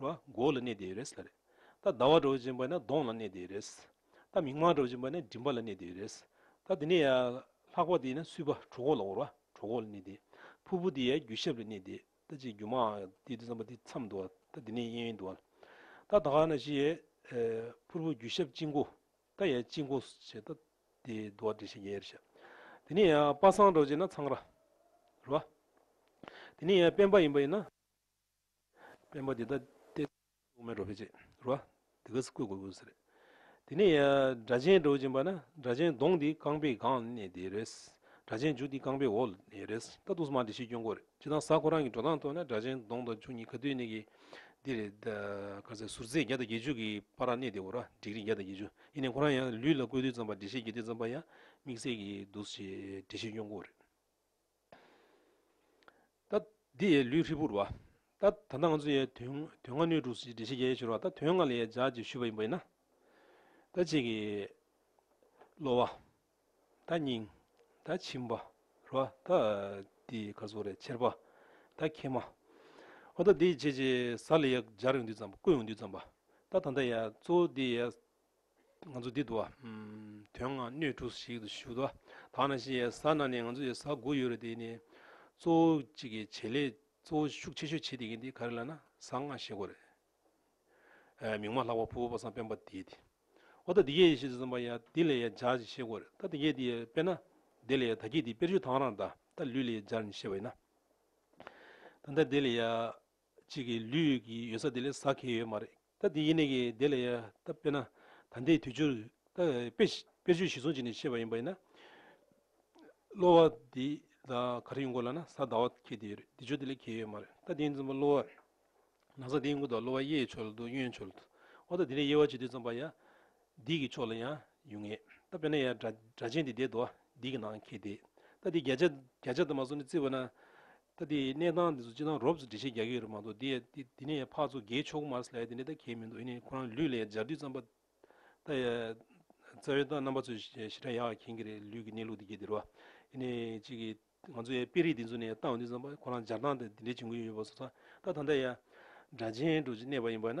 རོ། མགོ་ལ་གནས་དེ་རེད། ད་ཟླ་བ་འགྲོ་བ་ཅན་པ་ནི་གདོང་ལ་གནས་དེ་རེད། ད་མིག་མངས་འགྲོ་བ་ཅན་པ་ནི་མགྲིན་པ་ལ་གནས་དེ་རེད། ད་དེ་ནས་ལྷག་པ་དེ་ནི་སུལ་པ་གྲོ་གོག་ལ་བོར་བ་གྲོ་གོག་ལ་གནས་དེ། ཕུར་བུ་དེ་རྒྱུ་ཞབས་ལ་གནས་དེ། ད་ཅིག་རྒྱུ་མའང་དེ་དུས་བསམ་པ་དེ་མཚམས་འདུག་བ་ད་དེ་ནས་གཡས་གཡོན་འདུག་བ་ད་ད་ག་ན་བྱེད། ཕུར་བུ་རྒྱུ་ཞབས་གཅིག་འགོ། ད་ཡང་གཅིག་འགོ་བྱེད་ད་དེ་འདུག་བ་དྲིན་ཤིང་གཡས་རེད་བྱ། དེ་ནས་ཡང་པ་སངས་འགྲོ་བ་ཅན་ན་ཚངས་ར། རོ། དེ་ནས་ཡང་དཔལ་འབར་ཡིན་པ་ཡིན་ན། དཔོན་པོ་འདི་ལྟ་སྟེ། དབུ་མའི་རོ་བེད་ཅེས་རུ་བ། དེ་ག་སི་བཀོད་དགོས་དགོས་ཟེར། དེ་ནས་སྦྲ་ཆེན་འགྲོ་བཞིན་པ་ན་སྦྲ་ཆེན་གདོང་འདི་རྐང་པའི་སྒང་ནས་བསྡད་རེད། སྦྲ་ཆེན་མཇུག་འདི་རྐང་པའི་འོག་ལ་བསྡད་རེད། ད་དུང་སྨྲ་འདི་ཤེས་སྐྱོན་གོ་རེད་ཅེས་དང་གཟའ་ཁོ་རང་གི་འགྲོ་སྟངས་ཐོས་ན་སྦྲ་ཆེན་གདོང་དང་མཇུག་གཉིས་ག་དུས་གནས་གི་འདི་རེད། ག་ཚད་ཟུར་ཚད་བརྒྱ་དང་བརྒྱད་ཅུ་གི་པར་ར་གནས་འདི་གོ་ར་འགྲིག་རིགས་བརྒྱ་དང་བརྒྱད་ཅུ་ཡིན་ནའི་ཁོ་རང་ཡང་ལུས་ལ་བཀོད་དུས་ཙམ་པར་འདི་ཤེས་གྱི་དུས་ཙམ་པར་ཡང་དམིགས་བསལ་གྱི་འདུག་ཅེས་འདི་ཤེས་སྐྱོན་གོ་རེད། ད། འདི་ཡི་ལུས་ཧྲིལ་པོར་བ། ད། ད་ལྟ་ང་ཚོ་ཡི་དུས་དུས་ང་ནུས་དྲུག་ཅེས་འགྲེལ་བྱེད་རྒྱ་ཡིས་ཤོར་བ་ད་དོན་ང་ལ་ཡའི་ལྗགས་ཀྱིས་ཞུས་པ་ཡིན་པ་ཡིན་ན། ད་གཅིག་གིས། གློ་བ། ད་སྙིང། ད་མཆིན་པ། རུ་བ། ད། འདི་ཡི་ཁ་ཟུར་རེ་ཆེར་བ། ད་མཁལ་མ། འོ་ད་འདི་ཡི་རྗེས་ཀྱི་ཟ་ལ་ཡའི་ལྗགས་རིང་དུས་ཙམ་བརྐོས་ཡོང་དུས་ཙམ་བ། ད་ད་ད་ཡའི་གཙོ་བོ་འདི་ཡའི། ང་ཚོ་འདི་འདུག་ཨ། དོན་ལྔ་སྣོད་དྲུག་ཞིག་ཏུ་བཞུགས་འདུག་ཨ། ད་ནང་བཞིན་ཡལ་ས་ན་ནི་ང་ཚོ་ཡལ་ས་དགུ་ཡོད་རེད་དེ་ནི། གཙོ་བོ་གཅིག་གི་བྱེད་ལས་གཙོ་བོ་ཤུགས་ཆེ་ཤོས་བྱེད་དེ་གིན་དེ་ག་རེ་ལ་ན་ས་ལྔ་ཞེད་གོ་རེད། མིང་མ་ལྷག་པ་ཕུ་བོ་པ་སངས་སྤེན་པ་དེ་དེ། འོ་ད་འདི་གས་ཤེས་ཟིན་པ་ཡ་དེ་ལས་ཡ་སྦྱར་ཅིག་ཤེས་གོ་རེད་ད་འདི་གས་དེ་ཡ་དཔེར་ན། དེ་ལས་ཡ་ད་གིས་དེ་དཔེར་བཤུ་དང་རང་ད་ལུས་ལས་ཡ་སྦྱར་ནི་ཤེས་པ་ཡིན་ན། ད་འདི་ལས་ཡ། གཅིག་གིས་ལུས་ཡོད་ཀྱི་ཡོད་ས་དེ་ལས་ཟ་གི་ཡོད་མ་རེད་ད་དེ་ཡིན་ནས་ཀྱི་དེ་ལ་ཡ་ད་དཔེར་ན་ད་ལྟའི་དུས་ཆུར་ད་དཔེ་དཔེར་བརྗོད་གཞི་བཟུང་བྱས་ནས་བཤད་པ་ཡིན་པ་ཡིན་ན། གློ་བ་དེ་ད་ག་རེ་ཡོང་དགོས་ལ་ན་ཟ་ཟླ་བ་ཁྱེད་དེ་ཡོད་རེད་དེ་ཆུ་དེ་ལས་ཁྱེད་ཡོད་མ་རེད་ད་དེ་ཡིན་ཙམ་པ་གློ་བ་ན་ཟ་དེ་ཡིན་དགོས་ད་གློ་བ་གཡས་ཕྱོགས་ལ་འདུག་གཡོན་ཕྱོགས་ལ་འདུག་འོ་ད་དེ་ལས་དབྱེ་བ་བྱེད་དུས་ཙམ་པ་ཡ་འདིས་ཀྱི་ཕྱོགས་ལ་ཡང་ཡོད་ངེས་ད་དཔེར་ན་ཡ་སྒྲ་སྒྲ་ཆེན་དེ་དེ་དོ་འདིས་ཀྱི་ནང་ཁྱེད་དེ་ད་དེ་བརྒྱ་ཆ་བརྒྱ་ཆ་ད་མ་སོང་ནས་བརྩིས་པ་ན། ད་དེ་གནས་སྟངས་འདི་ཚོ་སྤྱི་དང་རོབ་ཙོ་འདྲི་བྱེད་རྒྱག་གི་ཡོད་རེད་མ་གཏོགས་དེ་ཡས་དེ་ནས་ཕག་ཚོ་རྒས་ཆོག་གི་མ་རེད་ལས་དེ་འདྲ་ད་གས་མི་འདུག་ཡིན་ནའི་ཁོ་རང་ལུས་ལས་སྦྱར་དུས་རྩམ་པ་ད་ཡས་རྩ་བའི་རྣམ་པ་ཚོས་ཞེ་དྲག་ཡག་མཁྱེན་གི་རེད་ལུས་ཀྱི་གནས་ལུགས་དེ་གས་དེ་རུ་ཡིན་ནའི་གཅིག་གི་ང་ཚོ་ཡས་དཔེ་རིས་འདི་ཚོ་ནས་བལྟ་འོང་དུས་རྩམ་པ་ཁོ་རང་སྦྱར་སྟངས་དེ་འདྲའི་འབྱུང་གི་ཡོད་པ་ཚོ་ཚང་ད་ད་ད་ཡས་སྒྲ་གཅན་དྲུག་ཅིག་གནས་པ་ཡིན་པ་ན་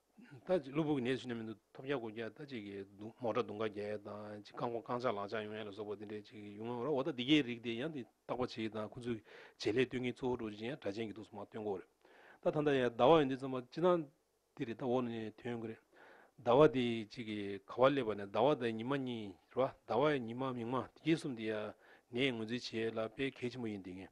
ལྟ་ཅི། གློ་བུར་གྱི་ནད་ཅིག་ནི་མི་འདུག་ཐོབ་རྒྱ་སྒོ་རྒྱ་ལྟ་ཅི་གི་འདུག་མོག་དྲ་དུང་ཁ་རྒྱ་ཡལ་དང་ཅི་རྐང་འཁོར་རྐང་ཆག་ལག་ཆག་ཡོང་ཡལ་ལ་སོགས་པ་འདི་འདྲའི་ཅི་ཡོང་ངོ་ར་འོ་ད་འདི་གའི་རིགས་དེ་ཡང་འདི་བརྟག་པ་ཅི་དང་ཁོ་ཚོས་བྱེད་ལས་སྟོན་གྱིན་གཙོ་བོ་འགྲོ་ཅི་ཡང་དྲ་ཅན་གྱི་འདུག་སོ་མ་སྟོན་གོ་རེད་ད་ད་འདའ་ཡལ་ཟླ་བ་ཡོད་འདི་ཙམ་པ་ཅི་ཐང་འདི་རེད་ད་འོག་ནས་དོན་གི་རེད། ཟླ་བ་དེ་ཅི་གི་ག་བ་སླེབས་པ་ནས་ཟླ་བ་དང་ཉི་མ་གཉིས་རེད་བ་ཟླ་བ་ཡ་ཉི་མ་མིག་མ་དེ་གྱིས་གསུམ་དེ་ཡ་ངས་ངོས་འཛིན་བྱེད་ལ་དཔེ་གལ་ཆེན་པོ་ཡིན་འདི་ངས་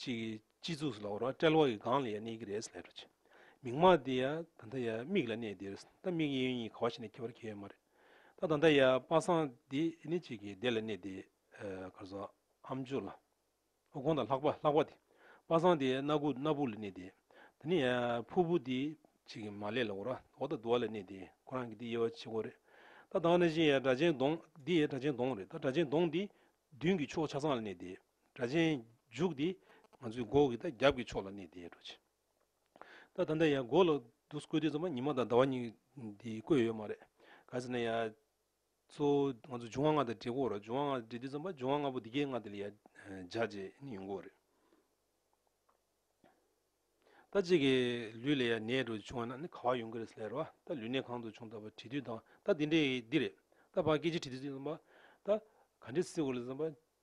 ཅིག་གིས་སྤྱི་གཙུག་སུ་ལ་བོར་བ་དཔྲལ་བ་གི་སྒང་ལ་ཡང་གནས་ཀྱི་རེད་ལྷས་འཕྲོ་ཅིག་མིག་མ་དེ་ཡ་ད་ལྟ་ཡ་མིག་ལ་གནས་འདིར་ད་མིག་གཡས་གཡོན་གཉིས་ག་བ་ཞིག་ནས་འཁྱེར་བར་ཁེལ་ཡོད་མ་རེད་ད་ད་ལྟ་ཡ་པ་སངས་འདི་ནི་ཅིག་གིས་བདེ་ལ་གནས་འདི་གར་སོ་ཨམ་མཆོག་ལ་ཨོ་ཁོང་དང་ལྷག་པ་ལྷག་པ་དེ་པ་སངས་དེ་སྣ་སྒུག་སྣ་སྦུག་ལ་གནས་འདི་ད་ནི་ཡ་ཕུར་བུ་དེ་ཅིག་གིས་མ་ལས་ལ་བོར་བ་འོག་ད་དུ་བ་ལ་གནས་འདི་ཁོ་རང་གི་འདི་དབྱེ་བ་ཕྱེད་སྒོ་རེད་ད་ད་ང་ན་བཞིན་ཡ་སྒྲ་གཅན་གདོང་འདི་ཡ་སྒྲ་གཅན་གདོང་རེད་ད་སྒྲ་གཅན་གདོང་འདི་མདུན་གྱི་ཕྱོགས་ཆ་ཚང་ལ་གནས་འདི། སྒྲ་གཅན་འཇུག་དེ་ང་ཚོས་སྒོ་གི་དང་རྒྱབ་ཀྱི་ཕྱོགས་ལ་གནས་དེའི་འགྲོ་ཆེ། ད་ད་ནས་ཡང་སྒོ་ལ་འདུག་བཀོད་དུས་ཚང་མ་ཉི་མ་དང་ཟླ་བ་གཉིས་འདི་བཀོད་ཡོད་མ་རེད། ག་ཚོད་ནས་ཡང་གཙོ་བོ་ང་ཚོ་འབྱུང་བ་ལྔ་དང་འབྲེལ་གོ་རེད་འབྱུང་བ་ལྔ་དང་འབྲེལ་དུས་ཚང་མ་འབྱུང་བ་ལྔ་པོ་འདི་གའི་ང་དེ་ལ་ཡང་བྱ་བྱེད་ནི་ཡོད་གོ་རེད། ད་གཅིག་གི་ལུས་ལ་ཡང་ནད་འགྲོ་བྱུང་བ་ན་ནི་ག་བ་ཡོང་གི་རེད་ཟེར་ལ་ད་ལུས་ནད་གང་དུ་བྱུང་ད་བར་དྲིས་དུས་དང་ད་འདི་འདྲའི་འདི་རེད། ད་བར་སྐད་ཆ་དྲིས་དུས་ཚང་མ་ད་ག་འདྲའི་སེ་གོ་རེད་ཟེར་ན།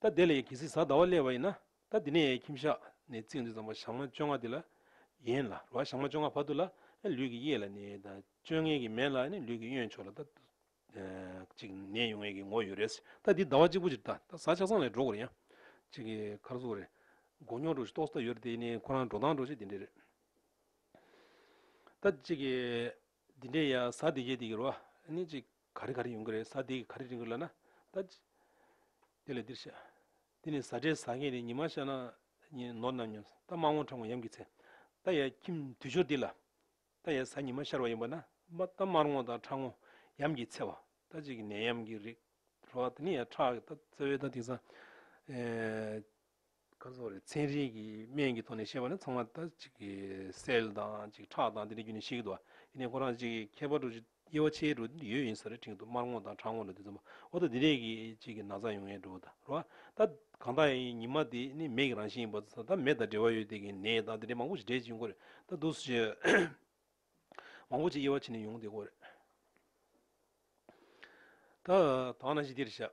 ད་དེ་ལ་ཡི་གེ་སྲིད་གཟའ་ཟླ་བ་སླེ་བ་ཡིན་ན་ད་དེ་ནས་ཡའི་ཁྱིམ་ཞག་ནས་བརྩིགས་འདུག་ཙམ་པ་ཞག་མ་བཅོ་ལྔ་དེ་ལ་ཡིན་ལ་རོ་ཞག་མ་བཅོ་ལྔ་བར་དུ་ལ་ལུས་ཀྱི་གཡས་ལ་ནས་དང་བཅོ་ལྔའི་གི་མན་ལ་ནས་ལུས་ཀྱི་གཡོན་ཕྱོགས་ལ་ད་ཅིག་ནས་ཡུང་ཡའི་གི་ངོ་ཡོད་རེད་ད་དེ་ཟླ་བ་གཅིག་པོ་ཅིག་ད་གཟའ་ཆགས་སང་ལས་འགྲོ་གོ་རེད་ཡ། ཅིག་གི་ཁར་གཟུགས་རེད། མགོ་སྙོག་འགྲོ་ཞིག་ཏོག་ས་ད་ཡོད་རེད་དེ་ནས་ཁོ་རང་འགྲོ་སྟངས་འགྲོ་ཞིག་དེ་འདྲས་རེད། ད་ཅིག་གི། འདི་འདྲའི་ཡང་ས་དེ་གས་དེ་གིར་བ་ནི་གཅིག་ག་རེ་ག་རེ་ཡོང་གི་རེད་ས་དེ་གིས་ག་རེ་དྲན་གི་ལ་ན་ད། དེ་ལས་འདིར་བཤད། འདི་ནི་ཟ་འདྲེ་ཟ་མཁན་རེད་ཉི་མ་ཤར་ན་ཉིན་ནོར་ནམ་ཡོང་ད་དམག་དམག་ཁྲ་ངོ་ཡམ་གི་ཚེ་ད་ཡ་ཁྱིམ་དུས་སྦྱོར་འདི་ལ་ད་ཡ་ཟ་ཉི་མ་ཤར་བ་ཡིན་པ་ན་ད་དམར་ངོ་དང་ཁྲ་ངོ་ཡམ་གི་ཚེ་བ་ད་གཅིག་གི་ནད་ཡམ་གི་རིགས་རོ་བ་དེ་ནི་ཡ་ཁྲ་གི་ད་ཚེ་བས་ད་དེང་སང། ཁ་སོགས་ལས་ཚན་རིག་གི་སྨན་གྱི་ཐོག་ནས་བཤད་པ་ནི་ཚང་མ་ད་ཅིག་གི་སེལ་དང་ཅིག་ཁྲག་དང་དེ་འདྲའི་རྒྱུ་ནས་ཤི་འདུག་ཨ། དེ་ནས་ཁོ་རང་ཅིག་མཁས་པ་དྲུག་ཅུ་དབྱེ་བ་ཕྱེའི་དྲུག་ཡོད་ཡིན་ས་རེད་དྲིང་དུ་དམར་སྔོ་དང་ཁྲ་སྔོ་ལ་དུས་ཚོད་འོ་ད་དེ་རེད་གི་ཅིག་གི་ན་ཚ་ཡོང་ངེས་འགྲོ་ད་རོ་ཨ། ད་གང་དག་ཡིན་ཉི་མ་དེ་ནི་མེད་ཀྱི་རང་བཞིན་ཡིན་པ་ཚོ་ད་མེ་དང་འབྲེལ་བ་ཡོད་དེ་གི་ནད་དང་དེ་འདྲའི་མང་པོ་ཞིག་འབྲེལ་ཅིག་ཡོང་གོ་རེད་ད་འདུག་སུ་ཞིག་མང་པོ་ཅིག་དབྱེ་བ་ཕྱེ་ནས་ཡོང་དེ་གོ་རེད་ད། དང་ན་ཞིག་འདིར་བཞག།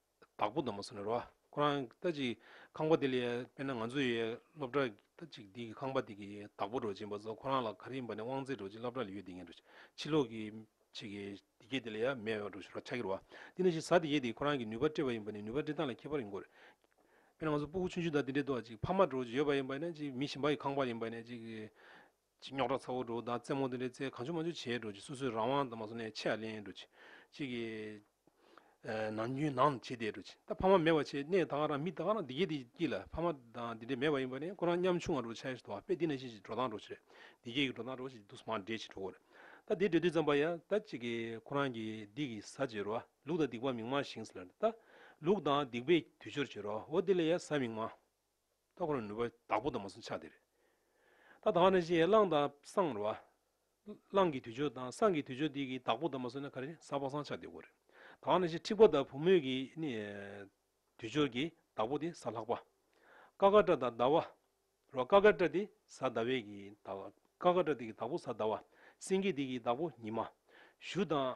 བདག་པོ་དང་མ་སོ་ནི་རོ། ཁོ་རང་ལྟ་ཅིག་ཁང་པ་འདི་ལ་དཔེར་ན་ང་ཚོ་ཡི་སློབ་གྲྭ་ལྟ་ཅིག་འདི་གི་ཁང་པ་འདི་གི་བདག་པོ་རོ་བྱིན་པ་ཚོ་ཁོ་རང་ལ་ག་རེ་ཡིན་པ་ནི་དབང་རྩའི་རོ་བྱིན་སློབ་གྲྭ་ལ་ཡོད་འདི་ངེས་རོ་ཕྱི་ལོག་གི་ཆེ་གེ་འདི་སྐད་འདི་ལ་ཡང་མེད་རོ་ཞུ་རོ་ཆ་གི་རོ། དེ་ནི་བཞིན་བཟའ་འདི་སྐད་འདི་ཁོ་རང་གི་ནུས་པ་སྤྲད་པ་ཡིན་པ་ནི་ནུས་པ་འབྲི་སྟངས་ལ་ཁྱད་པར་ཡིན་གོ། དཔེར་ན་ང་ཚོ་སྤུ་གུ་ཆུན་ཆུན་དག་འདི་འདྲའི་ལྟོ་ཅིག་ཕ་མ་རོ་བྱིན་ཡོད་པ་ཡིན་པ་ནི་ཅིག་མི་བྱིན་པ་ཡི་ཁང་པ་ཡིན་པ་ནི་ཅིག། ཅིག་རྙོག་དྲ་ཚ་བོ་འགྲོ་བདག་རྩེད་མོ་འདི་འདྲའི་རྩེད་གང་བྱུང་མ་བྱུང་བྱས་འགྲོ་ཅིག་སོ་སོའི་རང་དབང་དང་མ་སོ་ནས་ཆེ་ཡ་ལེན་འགྲོ་ཅིག་ཅིག་གིས་ནང་རྒྱུན་ནང་བྱེད་བསྡད་འགྲོ་ཅིག་ད་ཕ་མ་མེད་པ་ཆེ་གནས་ད་ག་རང་མི་ད་ག་རང་འདི་སྐད་འདི་སྐྱིད་ལ་ཕ་མ་དང་འདི་འདྲའི་མེད་པ་ཡིན་པ་ནས་ཁོ་རང་མཉམ་ཆུང་བ་འགྲོ་ཆ་ཡ་ཞིག་དོ་བ་དཔེ་འདི་ན་ཤེས་ཅིག་འགྲོ་སྟངས་འགྲོ་ཆ་རེད་འདི་སྐད་གི་འགྲོ་སྟངས་འགྲོ་ཅིག་དུས་སུ་མར་འདྲེས་ཅིག་འགྲོ་གོ་རེད་ད་འདི་འདྲེས་དུས་ཙམ་པ་ཡ་ད་ཅིག་གིས་ཁོ་རང་གི་འདི་གི་ཟ་བྱེད་རོ་བ་ལུག་དང་སྡིག་པ་མིག་མངས་ཤིང་ཟེར་ལ་ད་ལུག་དང་སྡིག་པའི་དུས་སྦྱོར་བྱེད་རོ་བོ་འདི་ལ་ཡ་ཟ་མིག་མངས། རྟོགས་པར་ནུས་པ་བདག་པོ་དང་མ་སྲུང་ཆ་དེ་རེད། ད་ད་ནི་ཅི་ཡང་བླང་དང་བསྲང་རེད། བླང་གི་དུས་ཆོད་དང་བསྲང་གི་དུས་ཆོད་དེ་གི་བདག་པོ་དང་མ་སྲུང་ན་ག་རེ་ཟ་བ་བསྲང་ཆ་དེ་གོ་རེད། ད་ནི་ཅི་འཁྲིག་པ་དང་བུ་མོས་ཀྱི་ནི། དུས་ཆོད་ཀྱི་བདག་པོ་དེ་ཟ་ལྷག་པ། ཀ་ཀ་སྐྲ་དང་ཟླ་བ། རོ་ཀ་ཀ་སྐྲ་དེ་ཟ་ཟླ་བས་ཀྱི་ད་བ། ཀ་ཀ་སྐྲ་དེ་གི་བདག་པོ་ཟ་ཟླ་བ། སེང་གེ་དེ་གི་བདག་པོ་ཉི་མ། གཞུ་དང།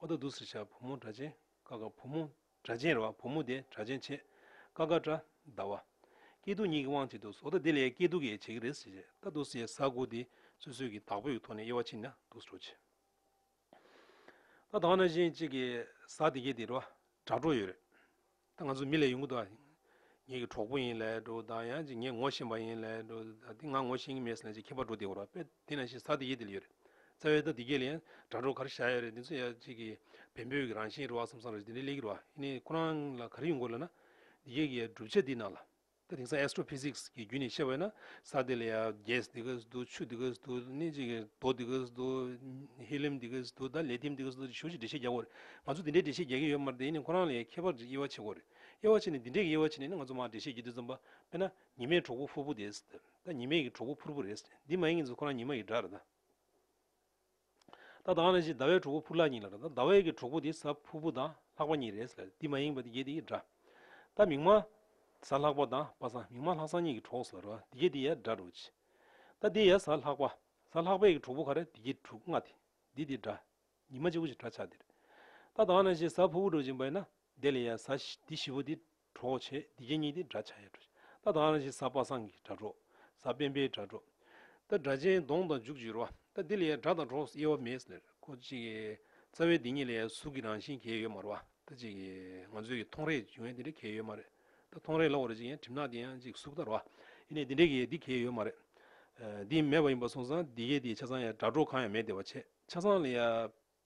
ཨོ་ད་དུ་སེར་བྱ་བུ་མོ་སྒྲ་ཆེན་ཀ་ཀ་བུ་མོ་སྒྲ་ཆེན་རེ་བ་བུ་མོ་དེ་སྒྲ་ཆེན་ཆེ་ཀ་ཀ་དྲ་ཟླ་བ། སྐྱེས་སྡུག་གཉིས་ཀྱི་དབང་བྱེད་དུ་ཟོ་ད་དེ་ལས་སྐྱེས་སྡུག་གི་བྱེད་ཀྱི་རེད་ཟེར་ཨ་ད་དུ་སེར་ཟ་དགུ་དེ་སོ་སོའི་གི་བདག་པོ་ཡི་ཐོག་ནས་དབྱེ་བ་ཕྱིན་ན་སྡུག་སྤྲོ་ཆེ། ད་དང་ན་གཞན་གཅིག་གི་ཟ་དེ་གྱེས་དེ་རེ་བ་དྲ་སྤྲོ་ཡོད་རེད། ད་ང་ཚོ་མི་ལས་ཡོང་གི་འདུག་ཨ། ངེད་ཀྱི་གྲོགས་པོ་ཡིན་ལེ་འགྲོ་ད་ཡང་ཅིག་ངས་ངོ་ཤེས་པ་ཡིན་ལེ་འགྲོ་ད་དེ་ང་ངོ་ཤེས་ཀྱི་མེད་ཟེར་ན་ཅིག་ཁྱད་པར་འགྲོ་དེ་འོ་རོགས་པས་དེ་ན་ཤི་ས་དེ་ཡེ་དེ་ལ་ཡོད་རེད་རྩ་བའི་ད་དེ་གས་ལ་ཡང་དྲ་གྲོགས་ག་རེ་བཞག་ཡོད་རེད་དེ་ཚོ་ཡང་ཅིག་གི་བན་བོད་ཀྱི་རང་བཞིན་རེད་བ་བསམ་བསམ་རེད་དེ་འདྲའི་ལེགས་ཀྱི་རེད་བ་ཡིན་ནའི་ཁོ་རང་ལ་ག་རེ་ཡོང་དགོས་ལ་ན་དེ་གས་ཀྱི་ཡ་སྒྲུབ་བྱེད་དེ་ནང་ལ། ད་དེང་སང Astro Physics གི་རྒྱུད་ནས་བཤད་པ་ན་ས་དེ་ལ་ཡང Gas འདི་ག་སི་འདུག་ཆུ་འདི་ག་སི་འདུག་ནི་ཅིག་རྡོ་འདི་ག་སི་འདུག Helium འདི་ག་སི་འདུག་ད Lithium འདི་ག་སི་འདུག་ཅེས་ཞུ་ཞིག་འགྲེལ་བཤད་རྒྱག་གོ་རེད་ང་ཚོ་འདི་འདྲའི་འགྲེལ་བཤད་རྒྱག་གིན་ཡོད་མ་རེད་དེ་ཡིན་ནའི་ཁོ་རང་ལ་ཡང་ཁྱད་པར་ཅིག་དབྱེ་བ་ཕྱེ་གོ་རེད་དབྱེ་བ་ཕྱེ་ནས་འདི་འདྲའི་དབྱེ་བ་ཕྱེ་ནས་ནི་ང་ཚོ་མང་འགྲེལ་བཤད་རྒྱུ་དེ་ཙམ་པ་དཔེར་ན་ཉི་མའི་གྲོགས་པོ་ཕུར་བུ་དེ་ཟེར་ད་ཉི་མའི་གི་གྲོགས་པོ་ཕུར་བུ་རེད་འདི་མ་ཡིན་གྱི་ཚོ་ཁོ་རང་ཉི་མ་ཡི་སྒྲ་རེད་ད། ད་དང་ལ་ཞིག་ཟླ་བའི་གྲོགས་པོ་ཕུར་ལག་གཉིས་ལ་དང་ཟླ་བའི་གི་གྲོགས་པོ་དེ་ཟ་ཕུར་བུ་དང་ལྷག་པ་གཉིས་རེད་ཟེར་ལ་འདི་མ་ཡིན་པ་འདི་གྱེས་འདི་འདྲ། ད་མིང་མ། ཟ་ལྷག་པ་དང་པ་སང་མིང་མ་ལྷག་སང་གཉིས་གི་གྲོགས་ཟེར་རོ་འདི་གྱེས་འདི་ཡ་འདྲ་འགྲོ་ཅི། ད་འདི་ཡ་ཟ་ལྷག་པ། ཟ་ལྷག་པའི་གི་གྲོགས་པོ་ག་རེ་འདི་གྱེས་དྲུག་ལྔ་དེ་འདི་འདི་འདྲ། ཉི་མ་གཅིག་པོ་ཞིག་གྲ་ཆག་འདིར། ད་དང་ལ་ཞིག་ཟ་ཕུར་བུ་འགྲོ་ཅིང་བས་ན་འདི་ལ་ཡ་ཟ་འདི་བཞི་པོ་འདི། གྲོགས་བྱས། འདི་རྐྱེན་གཉིས་ཏེ་སྒྲ་བྱ་ཡའི་སྒྲོ། ད་དང་ལ་ཞིག་ས་པ་སངས་ཀྱི་སྒྲ་སྒྲོག། ས་པན་པའི་སྒྲ་སྒྲོག། ད་སྒྲ་ཅན་གདོང་དང་འཇུག་ཅིག་རོ། ད་འདི་ལ་ཡའི་སྒྲ་དང་གྲོགས་སུ་དབྱེ་བ་མེད། ལེར་གོ་ཅིག། རྩ་བའི་འདི་གཉིས་ལ་ཡའི་གཟུགས་ཀྱི་རང་བཞིན་གྱིས་ཡོད་མ་རོ། ད་ཅིག། ང་ཚོས་ཀྱི་མཐོང་རེག་འབྱུང་བས་འདི་འདྲའི་གྱིས་ཡོད་མ་རེད། ད་མཐོང་རེག་ལ་འོ་རེ་ཅིག་ཡང་གྲིབ་ནག་འདི་ཡང་ཅིག་གཟུགས་ལྟར་རོ། ཡེ་ནས་འདི་འདྲའི་གྱིས་འདི་གྱིས་ཡོད་མ་རེད། འདི་མེད་པ་ཡིན་པར་སོང་ཙང་འདི་གྱིས་དེའི་ཆ་ཚང་ཡའི་སྒྲ་སྒྲོག་གང་ཡང་མེད་བདེ་བ་ཆེ། ཆ་ཚང་ལ་ཡའི།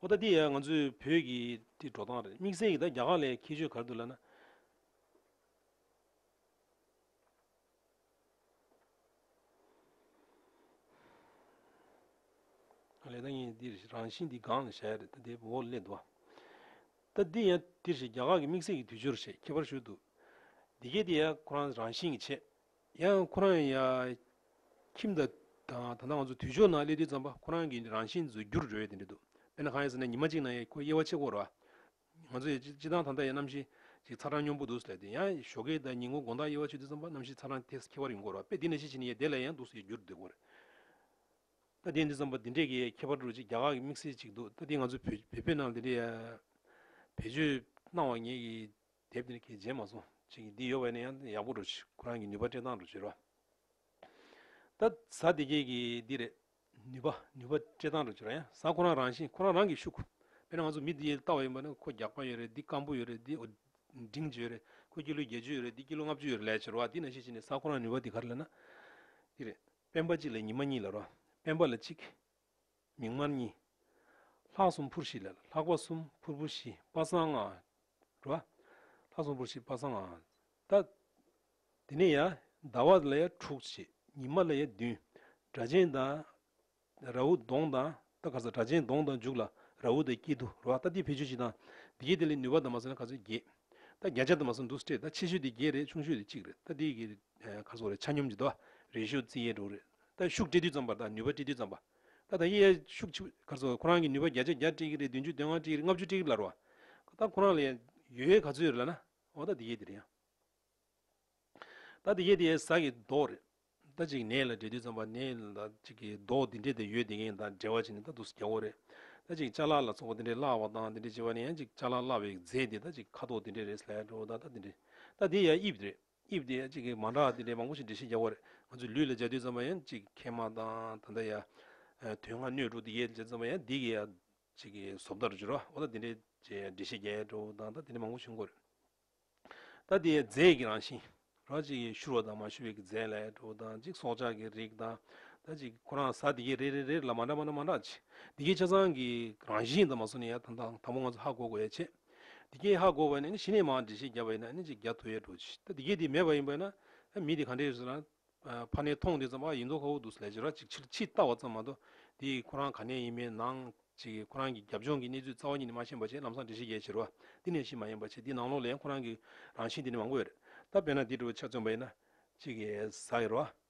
ཨོ་ད་འདི་ཡ་ང་ཚོའི་བོད་ཀྱི་འདི་འགྲོ་སྟངས་རེད་དམིགས་བསལ་གྱི་ད་རྒྱ་གར་ལའི་ཁྱད་ཆོས་ག་རེ་འདུག་ལབ་ན། ལས་ད་ངས་འདིར་རང་བཞིན་འདི་སྒང་ལ་བྱ་ཡ་རེད་ད་དེ་འོག་ལ་སླེབས་འདུག་བ། ད་འདི་ཡ་འདིར་བྱས་རྒྱ་གར་གྱི་དམིགས་བསལ་གྱི་དུས་སྦྱོར་བྱས་ཁྱད་པར་ཞུ་འདུག་འདི་གས་འདི་ཡ་ཁོ་རང་རང་བཞིན་གྱི་བྱས། ཡང་ཁོ་རང་ཡང་ཁྱིམ་བདག་དང་ད་ལྟ་ང་ཚོ་དུས་ཕྱོགས་ནང་སླེབས་དུས་ཙམ་པ་ཁོ་རང་གི་རང་བཞིན་བཟོ་རྒྱུར་རེ་བས་དེ་འདྲ་འདུག་དཔེར་ན་གང་ཡིན་ཟེར་ན་ཉི་མ་གཅིག་ནང་ཁོའི་དབྱེ་བ་ཕྱེད་སྐོར་རོ། ང་ཚོ་ཡང་སྤྱི་བཏང་ཐང་ཐང་ཡང་གནམ་གཤིས་ཅིག་ཚ་གྲང་གཉོམ་པོ་འདུག་ཟེར་ལད་དེ་ཡང་ཞོགས་ཀའི་ཟླ་ཉི་ངོ་དགོང་དག་དབྱེ་བ་ཕྱེ་དུས་ཙམ་པ་གནམ་གཤིས་ཚ་གྲང་ཐེགས་ཁྱད་པར་ཡོང་སྐོར་རོ་དཔེ་འདི་ནས་ཤེས་བྱེད་ནི་ཡས་བདེ་ལ་ཡང་སྡུག་སེ་ཡས་རྒྱུར་འདོད་སྐོར། ལྟ་དེ་འདི་ཙམ་པ་འདི་འདྲས་ཀྱི་ཡས་ཁྱད་པར་འགྲོ་ཅིག་རྒྱ་གར་གྱི་དམིགས་བསལ་ཅིག་འདུག་ལྟ་དེ་ང་ཚོ་བོད་བོད་རྣམས་ལ་འདི་འདྲས་ཡས་བེད་སྤྱོད་གནང་བ་ངེད་ཀྱི་དེབ་འདིར་གྱེས་རྗེས་མ་སོང་བྱེད་ཀྱི་འདི་ཡོད་པ་ནི་ཡང་ཡག་པོ་འགྲོ་ཆེད་ཁོ་རང་གི་ནུས་པ་སྤྲད་སྟངས་འགྲོ་ཆེད་རོགས་ད་གཟའ་འདི་གྱེས་ཀྱི་འདི་རེད་ནུས་པ་ནུས་པ་སྤྲད་སྟངས་འགྲོ་ཆེད་རོགས་ཡང་གཟའ་ཁོ་རང་རང་བཞིན་ཁོ་རང་རང་གིས་ཤུགས་དཔེར་ན་ང་ཚོ་མི་འདི་ཡེ་ལྟ་བ་ཡིན་པ་ནི་ཁོ་རྒྱགས་པ་ཡོད་རེད་འདི་སྐམ་པོ་ཡོད་རེད་འདི་འབྲིང་བཅུ་ཡོད་རེད་ཁོ་སྐྱིད་ལོ་བརྒྱད་ཅུ་ཡོད་རེད་འདི་སྐྱིད་ལོ་ལྔ་བཅུ་ཡོད་རེད་ལས་བྱེད་རོགས་ཨ་འདི་ན་ཤེས་བྱེད་ནི་གཟའ་ཁོ་རང་ནུས་པ་འདི་ག་རེ་ལས་ན་འདི་རེད་སྤེན་པ་གཅིག་ལས་ཉི་མ་གཉིས་ལ་རོགས་སྤེན་པ་ལ་གཅིག། མིག་དམར་གཉིས། ལྷག་གསུམ་ཕུར་བཞི་ལས་ལྷག་པ་གསུམ་ཕུར་བུ་བཞི་པ་གསང་སྔགས་འགྲོ། ལྷག་གསུམ་ཕུར་བཞི་པ་གསང་སྔགས་འགྲོ། དེ་ནས་ཡང་ཟླ་བ་ལ་ཡང་དྲུག་བྱས། ཉི་མ་ལ་ཡང་བདུན། སྒྲ་གཅན་དང། རཱ་ཧུ་གདོང་དང། ད་ག་ཚོད་སྒྲ་གཅན་གདོང་དང་འཇུག་ལ་རཱ་ཧུ་དང་དཀྱིལ་དུ་རོ། ད་དེ་བེད་སྤྱོད་བཞི་དང། དེ་བརྒྱད་དེ་ལས་ནུས་པ་དང་མ་ཟོས་ན་ག་ཚོད་བརྒྱད། ད་བརྒྱ་ཆ་དང་མ་ཟོས་ན་དུ་སྤྲེལ། ད་ཆེ་ཤོས་དེ་བརྒྱད་རེད་ཆུང་ཤོས་དེ་གཅིག་རེད། ད་དེ་ག་ཚོད་རེད་ཆ་སྙོམས་ཀྱི་དོ། རེ་ཤོ་རྩི་ཡས་དྲུག་རེད། ད་ཤུགས་སྤྲེལ་བསྡུས་ཙམ་པར་ད་ནུས་པ་སྤྲེལ་བསྡུས་ཙམ་པར། ད་ད་ཡེ་ཡ་ཤུག་ཆུ་གར་སོགས་ཁོ་རང་གི་ནུས་པ་བརྒྱ་ཆ་བརྒྱ་སྤྲི་གི་རེད་བདུན་ཅུ་བདུན་ལྔ་སྤྲི་གི་རེད་ལྔ་བཅུ་སྤྲི་གི་རེད་ལར་བ། ད་ཁོ་རང་ལ་ཡོད་ཡོད་ག་ཚོད་ཡོད་རེད་ལ་ན། འོ་ད་དེ་ཡེ་དེ་རེད་ཡ། ད་དེ་ཡེ་དེ་ཡེ་ཟ་གི་མདོག་རེད། ད་ཅིག་ནས་ལ་འབྲེལ་དུས་ཙམ་པ་ནས་ལ་ད་ཅིག་གི་མདོག་དེ་འདྲས་དེ་ཡོད་དེ་གའི་ད་འབྲེལ་བ་བྱས་ནས་ད་དུ་རྒྱ་བོ་རེད། ད་ཅིག་ལྕགས་ལ་ལ་ཚོགས་པ་དེ་འདྲས་བརླག་བ་དང་དེ་འདྲས་བྱས་པ་ནས་ཡང་ཅིག་ལྕགས་ལ་བརླག་པའི་རྫས་དེ་ད་ཅིག་ཁ་དོག་དེ་འདྲས་རེད་ཟེར་ལ་ཡ་འགྲོ་བ་ད་ད་དེ་འདྲས། ད་དེ་ཡ་དབྱིབས་རེད། དབྱིབས་དེ་གཅིག་གིས་མ་འདྲ་བ་དེ་འདྲའི་མང་པོ་ཞིག་འབྲི་ཤེས་རྒྱག་པར་ང་ཚོས་ལུས་ལ་སྦྱར་དུས་ཙམ་པ་ཡང་གཅིག་མཁལ་མ་དང་ད་ལྟ་ཡ། དུས་སྔ་སྣོད་དྲུག་འདི་ཡས་སྦྱར་ཙམ་པ་ཡང་འདི་གི་ཡ། གཅིག་གི་ཟོབ་ལྟར་སྦྱོར་བ་འོ་ན་དེ་འདྲའི་འབྲི་ཤེས་རྒྱག་ཡ་འགྲོ་དང་ད་དེ་འདྲའི་མང་པོ་ཞིག་མགོ་རུ། ད་དེ་ཡའི་རྫས་ཀྱི་རང་བཞིན། རོ་གཅིག་གིས་ཤུར་བ་དང་མ་ཤུར་བའི་གི་རྫས་ལ་ཡ་འགྲོ་དང་གཅིག་སྲོག་ཆགས་ཀྱི་རིགས་དང། ད་གཅིག་གིས་ཁོ་རང་ཟ་འདི་གའི་རེ་རེ་རེར་ལ་མ་འདྲ་མ་འདྲ་མ་འདྲ་གཅིག་འདི་གའི་ཆ་ཚང་གི་རང་བཞིན་དང་མ་སོ་ནི་ཡ་དང་དང་དང་པོ་ང་ཚོ་ཧ་གོ་དགོས་ཡ་ཆེད། འདི་སྐད་ཧ་གོ་བ་ནི་ཞི་གནས་མའང་འདྲི་ཞེས་བརྒྱ་བ་ཡིན་ན་ཅིག་བརྒྱ་ཐོ་ཡས་འགྲོ་ཅིག་ད་འདི་སྐད་འདི་མེད་པ་ཡིན་པས་ན་མི་འདི་ག་འདྲས་ཟེར་ན། ཕ་ནས་མཐོང་དེ་ཙམ་ཨ་ཡིན་མདོག་ཁ་བོ་འདུག་ལས་བྱེད་ར་ཅིག་ཕྱིར་ཕྱིས་བལྟ་བ་ཙམ་མ་གཏོགས་འདི་ཁོ་རང་ག་ནས་ཡིན་པའི་ནང་ཅིག་ཁོ་རང་གི་རྒྱབ་ལྗོངས་ཀྱི་གནས་ཚུལ་རྩ་བ་ཉིད་ནས་མ་ཤེས་པ་ཆེ་ལམ་སང་འདྲི་ཞེས་བརྒྱ་བྱེར་བ་འདི་ནས་ཤེས་མ་ཡིན་པ་ཆེ་འདི་ནང་ལོགས་ལས་ཁོ་རང་གི་རང་བཞིན་འདི་ནི་མང་པོ་ཡོད་རེད་ད་དཔེར་ན་འདི་འདྲ་བ་ཆ་བཙོན་པ་ཡིན་ན་ཅིག་གཟའ་ཡོར་བ།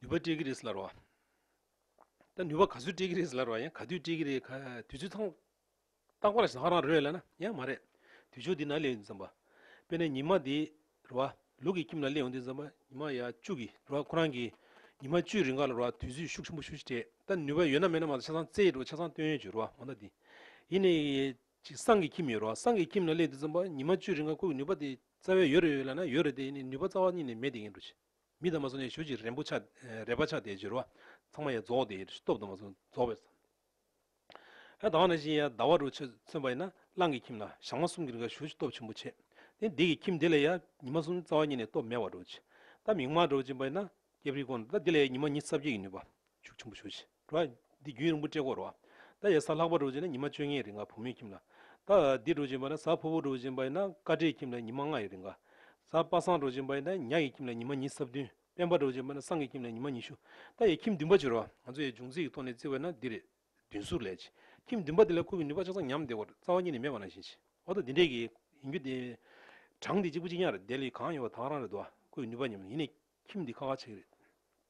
ནུས་པ་སྤྲད་ཀྱི་རེད་ཟེར་ལར་བ། ད་ནུས་པ་ག་ཚོད་སྤྲད་ཀྱི་རེད་ཟེར་ལར་བ་ཡང་ག་དུས་སྤྲད་ཀྱི་རེད་ག་དུས་ཚོད་ཚང། རྟག་པར་བཞག་རང་རེད་ལ་ན་ཡང་མ་རེད། དུས་ཕྱོགས་འདི་ན་སླེབས་ཡོང་དུས་བསམ་པ། དཔེར་ན་ཉི་མ་འདི་རེད་བ། ལུག་གི་ཁྱིམ་ལ་སླེབས་ཡོང་དུས་བསམ་པ་ཉི་མ་ཡ་བཅུ་གི་རེད་བ་ཁོ་རང་གིས། ཉི་མ་བཅུའི་རིང་ག་ལ་རེད་བ་དུས་ཚོད་ཤུགས་ཆེན་པོ་ཞུ་ཞིག་སྤྲད། ད་ནུས་པ་ཡོད་ན་མེད་ན་མ་གཏོགས་ཆ་ཚང་བཙལ་ཡོད་རེད་བ་ཆ་ཚང་བཏོན་ཡོད་ཅིག་རེད་བ་མ་མཐའ་འདི། ཡིན་ནའི། ཅིག་སྲང་གི་ཁྱིམ་ཡོད་རོགས་སྲང་གི་ཁྱིམ་ལ་སླེབས་དུས་ཙམ་པོ་ཉི་མ་བཅུའི་རིང་ཁ་ཁུག་གི་ནུས་པ་དེ་རྩ་བའི་ཡོད་རེད་ཡོད་ལབ་ན་ཡོད་རེད་དེ་ནི་ནུས་པ་རྩ་བ་གཉིས་ནས་མེད་དེ་ཡིན་འགྲོ། མི་དང་མ་སོང་ནས་ཞུ་ཅིག་རན་པོ་ཆགས་རལ་པ་ཆགས་དེ་བྱོས་རོགས་ཚང་མ་ཡ་རྫོགས་དེ་སྟོབས་དང་མ་སོང་རྫོགས་པའི། ཧ་ད་བ་ན་བཞིན་ཡ་ད་བ་རུ་ཆོས་མཚོན་པ་ཡིན་ན་གླང་གི་ཁྱིམ་ལ་ཞག་མ་གསུམ་གི་རིང་ཁ་ཞུ་ཅིག་སྟོབས་ཆེན་པོ་ཆེ་དེ་འདི་གི་ཁྱིམ་དེ་ལ་ཡ་ཉི་མ་གསུམ་རྩ་བ་གཉིས་ནས་སྟོབས་མེད་བ་འགྲོ་ཅིག་ད་མིག་མ་འགྲོ་ཅིག་པ་ཡིན་ན་སྐྱབས་རི་དགོངས་ད་འདི་ལ་ཡ་ཉི་མ་གཉིས་རྩ་བརྒྱད་ཀྱི་ནུས་པ་ཤུགས་ཆེན་པོ་ཞུ་ཅིག། རོ། འདི་རྒྱུན་རིང་པོ་བཀྲེས་སྐོར་རོ། ད་ཡས་ས་ལྷག་པ་འགྲོ་བྱེད་ན་ཉི་མ་བཅོ་ལྔའི་རིང་ག་བུ་མོས་ཁྱིམ་ལ། ད་འདི་འགྲོ་བྱེད་པ་ན་ས་ཕོ་བོ་འགྲོ་བྱེད་པ་ཡིན་ན་ཀ་བྲེའི་ཁྱིམ་ལ་ཉི་མ་ལྔའི་རིང་ག། ས་པ་སང་འགྲོ་བྱེད་པ་ཡིན་ན་ཉག་གི་ཁྱིམ་ལ་ཉི་མ་ཉིས་སྲབ་བདུན་དཔལ་འབར་འགྲོ་བྱེད་པ་ན་སང་གི་ཁྱིམ་ལ་ཉི་མ་ཉི་ཤུ། ད་ཡས་ཁྱིམ་བདུན་པ་བྱེད་རོ། ང་ཚོ་ཡས་འབྱུང་རྩིས་ཀྱི་ཐོག་ནས་བརྩི་བས་ན་འདི་རེད། བདུན་ཟུར་ལས། ཁྱིམ་བདུན་པ་འདི་ལ་ཁུར་བའི་ནུས་པ་ཆགས་ཚང་ཉམས་བདེ་བར་རྩ་བ་གཉིས་ནས་མེད་པ་ནང་བཞིན་གྱིས། འོ་ད་འདི་འདྲས་ཀྱི། ཡིན་རྒྱུ་དེ། གྲངས་འདི་གཅིག་པུ་གཅིག་ཉག་རེ་བདེ་ལེགས་གང་ཡོད་པ་དང་རང་རེད་དོ། ཁུར་བའི་ནུས་པ་ཉམས་ཡིན་ནས་ཁྱིམ་འདི་ཁ་ཁ་ཆགས་ཀྱི་རེད།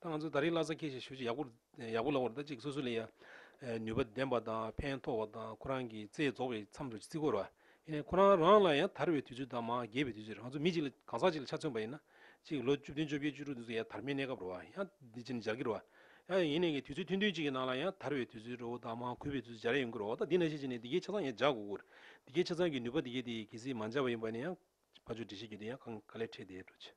ད་ང་ཚོས་ད་རིང་ལྷ་སར་ཁྱེད་ཀྱི་ཞབས་ཕྱི་ཡག་པོ་ཡག་པོ་ལ་བོར་ད་ཅིག་སོ་སོ་ལ་ཡ། ནུས་པ་ལྡན་པ་དང་ཕན་ཐོག་བ་དང་ཁོ་རང་གི་རྩེ་རྫོགས་པའི་མཚམས་འགྲོ་ཅིག་རྩིས་བསྐོར་བ། ཡིན་ནའི་ཁོ་རང་རང་ལ་ཡང་དར་བའི་དུས་ཚོད་དང་མ་རྒས་པའི་དུས་ཚོད་རེད་ང་ཚོ་མི་ཅིག་ལ་གང་ཟག་ཅིག་ལ་ཆ་མཚོན་པ་ཡིན་ན། ཅིག་ལོ་བཅུ་བདུན་བཅོ་བརྒྱད་བཅུ་དྲུག་དུས་སུ་ཡང་དར་མའི་གནས་སྐབས་རོ། ཡང་འདི་ཅིག་ནི་འབྱར་གྱི་རོ། ཡང་ཡིན་ནའི་གི་དུས་ཚོད་ཐུང་ཐུང་ཅིག་གི་ནང་ལ་ཡང་དར་བའི་དུས་ཚོད་རོ་དང་མ་གུས་པའི་དུས་ཚོད་འབྱར་ཡོང་གི་རོ་ད་འདི་ན་ཤེས་ཅིག་ནི་འདི་གའི་ཆ་ཚང་ཡང་འབྱར་དགོས་དགོས། འདི་གའི་ཆ་ཚང་གི་ནུས་པ་འདི་གའི་དེ་གི་གལ་སྲིད་མ་འབྱར་བ་ཡིན་པ་ནི་ཡང། ཕ་ཆོས་འབྲི་བྱེད་ཀྱི་དེ་ཡང་གང་ག་ལེར་ཁྲེལ་བསྡད་འགྲོ་ཅིག།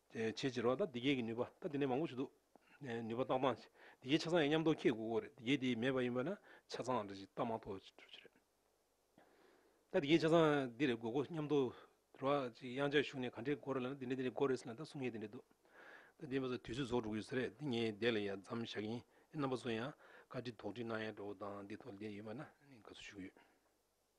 བྱས་ཕྱིར་རོ། ད་འདི་སྐད་ཀྱི་ནུས་པ་ད་དེ་ནས་མང་པོ་བྱུང་འདུག། ནུས་པ་བཏང་བཏང་ཞིག་འདི་སྐད་ཆ་ཚང་ཡང་མཉམ་དོ་ཁྱེད་གོ་གོ་རེད་འདི་སྐད་དེ་མེད་པ་ཡིན་པ་ན་ཆ་ཚང་རེད་ཅིག་ལྟ་མ་ཐོ་ཅིག་གྲུབ་ཅིག་རེད། ད་འདི་སྐད་ཆ་ཚང་འདི་རེད་གོ་གོ་མཉམ་དོ། རོ། ཅིག་དབྱངས་ཅག་ཞུགས་ནས་ག་འདྲས་གོ་རེད་ལ་ན་འདི་འདྲས་འདི་འདྲས་གོ་རེད་ཟེར་ན་ད་གསུང་ཡས་འདི་འདྲས་འདུག། ད་འདི་མ་ཟོ་དུས་ཚོད་ཟོག་འགྲོ་གི་ཡོད་ས་རེད་འདི་ངས་བསྡད་ལ་ཡ་མཚམས་བཞག་གིན་ཨེ་རྣམ་པ་ཚོ་ཡང་བཀའ་དྲིན་དོག་དྲིན་གནང་ཡ་འགྲོ་བོ་དང་འདི་ཐོག་ལ་བསྡད་ཡོད་པ་ན་དགའ་བསུ་ཞུ་གི་ཡོད།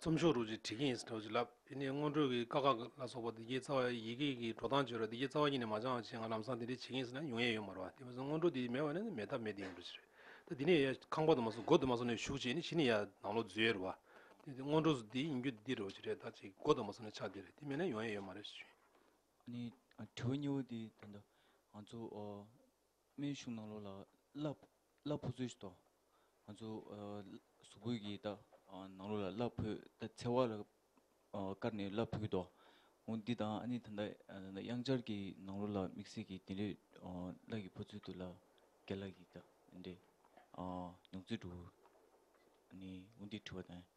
ཚོམས་ཤོག་རུ་ཅིག་བྲིས་ཀྱིན་ཡོད་ཅེས་ལབ། དེ་ནས་སྔོན་འགྲོའི་དཀའ་ཁག་ལ་སོགས་པ་འདི་གའི་རྩ་བ་ཡི་གེ་ཀྱི་འགྲོ་སྟངས་བརྗོད་ལ་འདི་གའི་རྩ་བ་གཉིས་ནས་མ་སྦྱངས་བྱས་ང་ལམ་སང་དེ་འདྲའི་བྱེད་ཀྱིན་ཟེར་ན་ཡོང་ཡས་ཡོད་མ་རེད་བ། དེ་མ་ཟད་སྔོན་འགྲོ་དེ་མེད་བ་ནི་མེད་ཐབས་མེད་དེ་ཡིན་འགྲོ་ཞིག་རེད། ད་འདི་ནས་ཡ་ཁང་པ་དུ་མ་སོང་སྒོ་དུ་མ་སོང་ནས་ཞུགས་བྱས་ནས་གཞི་ནས་ཡ་ནང་ལོག་འཛུལ་ཡས་རེད་བ། དེ་ནི་སྔོན་འགྲོ་དེ་ཡིན་རྒྱུ་འདི་རེད་བ་ཅིག་རེད་ད་ཅིག་སྒོ་དུ་མ་སོང་ནས་ཆགས་བསྡད་རེད་དེ་མེད་ན་ཡོང་ཡས་ཡོད་མ་རེད་ཞུས། ནས་དྲི་བ་གཉིས་པོ་དེ་དོན་དུ་ང་ཚོ་སྨན་གཞུང་ནང་ལོགས་ལ་གླ། གླ་ཕོག་ཚུལ་ཞིག་ཏོ། ང་ཚོ། གཟུགས་པོད་ཀྱི་རྟགས། ནང་ལོགས་ལ་གླ་ཕོག་ད་འཚེ་བ་ལ། བཀར་ནས་གླ་ཕོག་གི་ཏོ། འོ་འདི་དང་ཨ་ནི་ད། དབྱངས་འཆར་གྱི་ནང་ལོགས་ལ་དམིགས་བསལ་གྱི་དེ་ལས། གླ་གི་ཕོག་ཚུལ་དུ་གླ། གད་ལ་གི་ད། འདྲེ། མྱོང་ཚུལ་དྲུག། ནི་འོ་འདི་བྲི་བ་དང།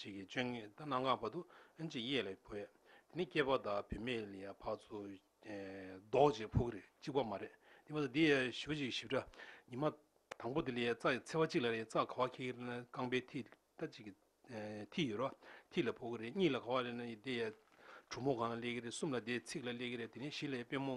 བྱེད་ཀྱི་སྤྱོད་ངན་ལྟ་ན་སྔ་བར་དུ་ཨེན་ཅིག་གཡས་ལས་བུད། ནི་སྐྱེས་པ་དག་བུད་མེད་ལས་ཡང་བར་དུ་ལྡོག་ཅིང་ཕུག་རེ་གཅིག་པ་མ་རེད་དེ་བར་དུ་འདི་ཡང་བཞི་བ་ཅིག་ཞིབ་ཕྲ། ཉི་མ་དང་པོ་དེ་ལས་རྩ་ཡི་ཚེ་བ་གཅིག་ལ་རེ་རྩ་ག་བ་ཁྱི་གེར་ནི་རྐང་པའི་མཐིལ་ལྟ་ཅིག་གི་མཐིལ་ཡོད་རོ་མཐིལ་ལ་ཕུག་རེ་གཉིས་ལ་ག་བ་རེ་ནི་དེ་ཡང་གྲུ་མོ་གང་ལ་སླེ་གི་རེ་གསུམ་ལ་དེའི་ཚིགས་ལ་སླེ་གི་རེ་དེ་ནས་བཞི་ལས་དཔོན་མོ།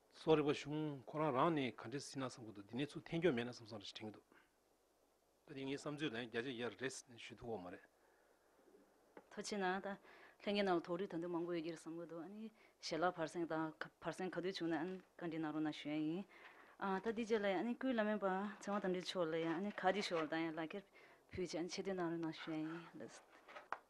སོགས་རིག་པ་བྱུང། ཁོ་རང་རང་ནས་ག་འདྲས་སྲིད་ན་བསམ་གི་འདུག་འདི་ནས་ཚུར་འཐེན་ཀྱོག་མེད་ན་བསམ་བསམ་རེད་དྲན་གི་འདུག། ད་དེ་ངའི་བསམ་ཚུལ་ལན་བརྒྱ་ཆ་ཡར་རེད་ཟེར་ནས་ཞུས་འདུག་འོ་མ་རེད། ཐུགས་ཆེ་ན་ད་ལྷན་གྱི་ནང་ལ་ཐོག་རིགས་དོན་དུ་མང་པོ་ཡོད་ཀྱི་རེད་བསམ་གི་འདུག་ཨཱ་ནི་ཞལ་ལག་བར་སེང་དང་བར་སེང་ག་དུས་བྱུང་ན་ཨཱ་ནི་བཀའ་འདྲི་གནང་རོགས་གནང་ཞུ་ཡག་ཡིན། ཨ་ད་འདི་རྗེས་ལ་ཡང་ཨཱ་ནི་སྐུའི་བླ་མའི་པང་ཚེ་དབང་དམ་འབྲིང་མཆོག་ལ་ཡང་ཨཱ་ནི་ཁ་གཅིག་ཤོར་བ་དང་ཡང་ལག་འཁྱེར་ཕུལ་ཆེད་ཨཱ་ནི་ཆེད་བསྟོད་གནང་རོགས་གནང་ཞུ་ཡག་ཡིན།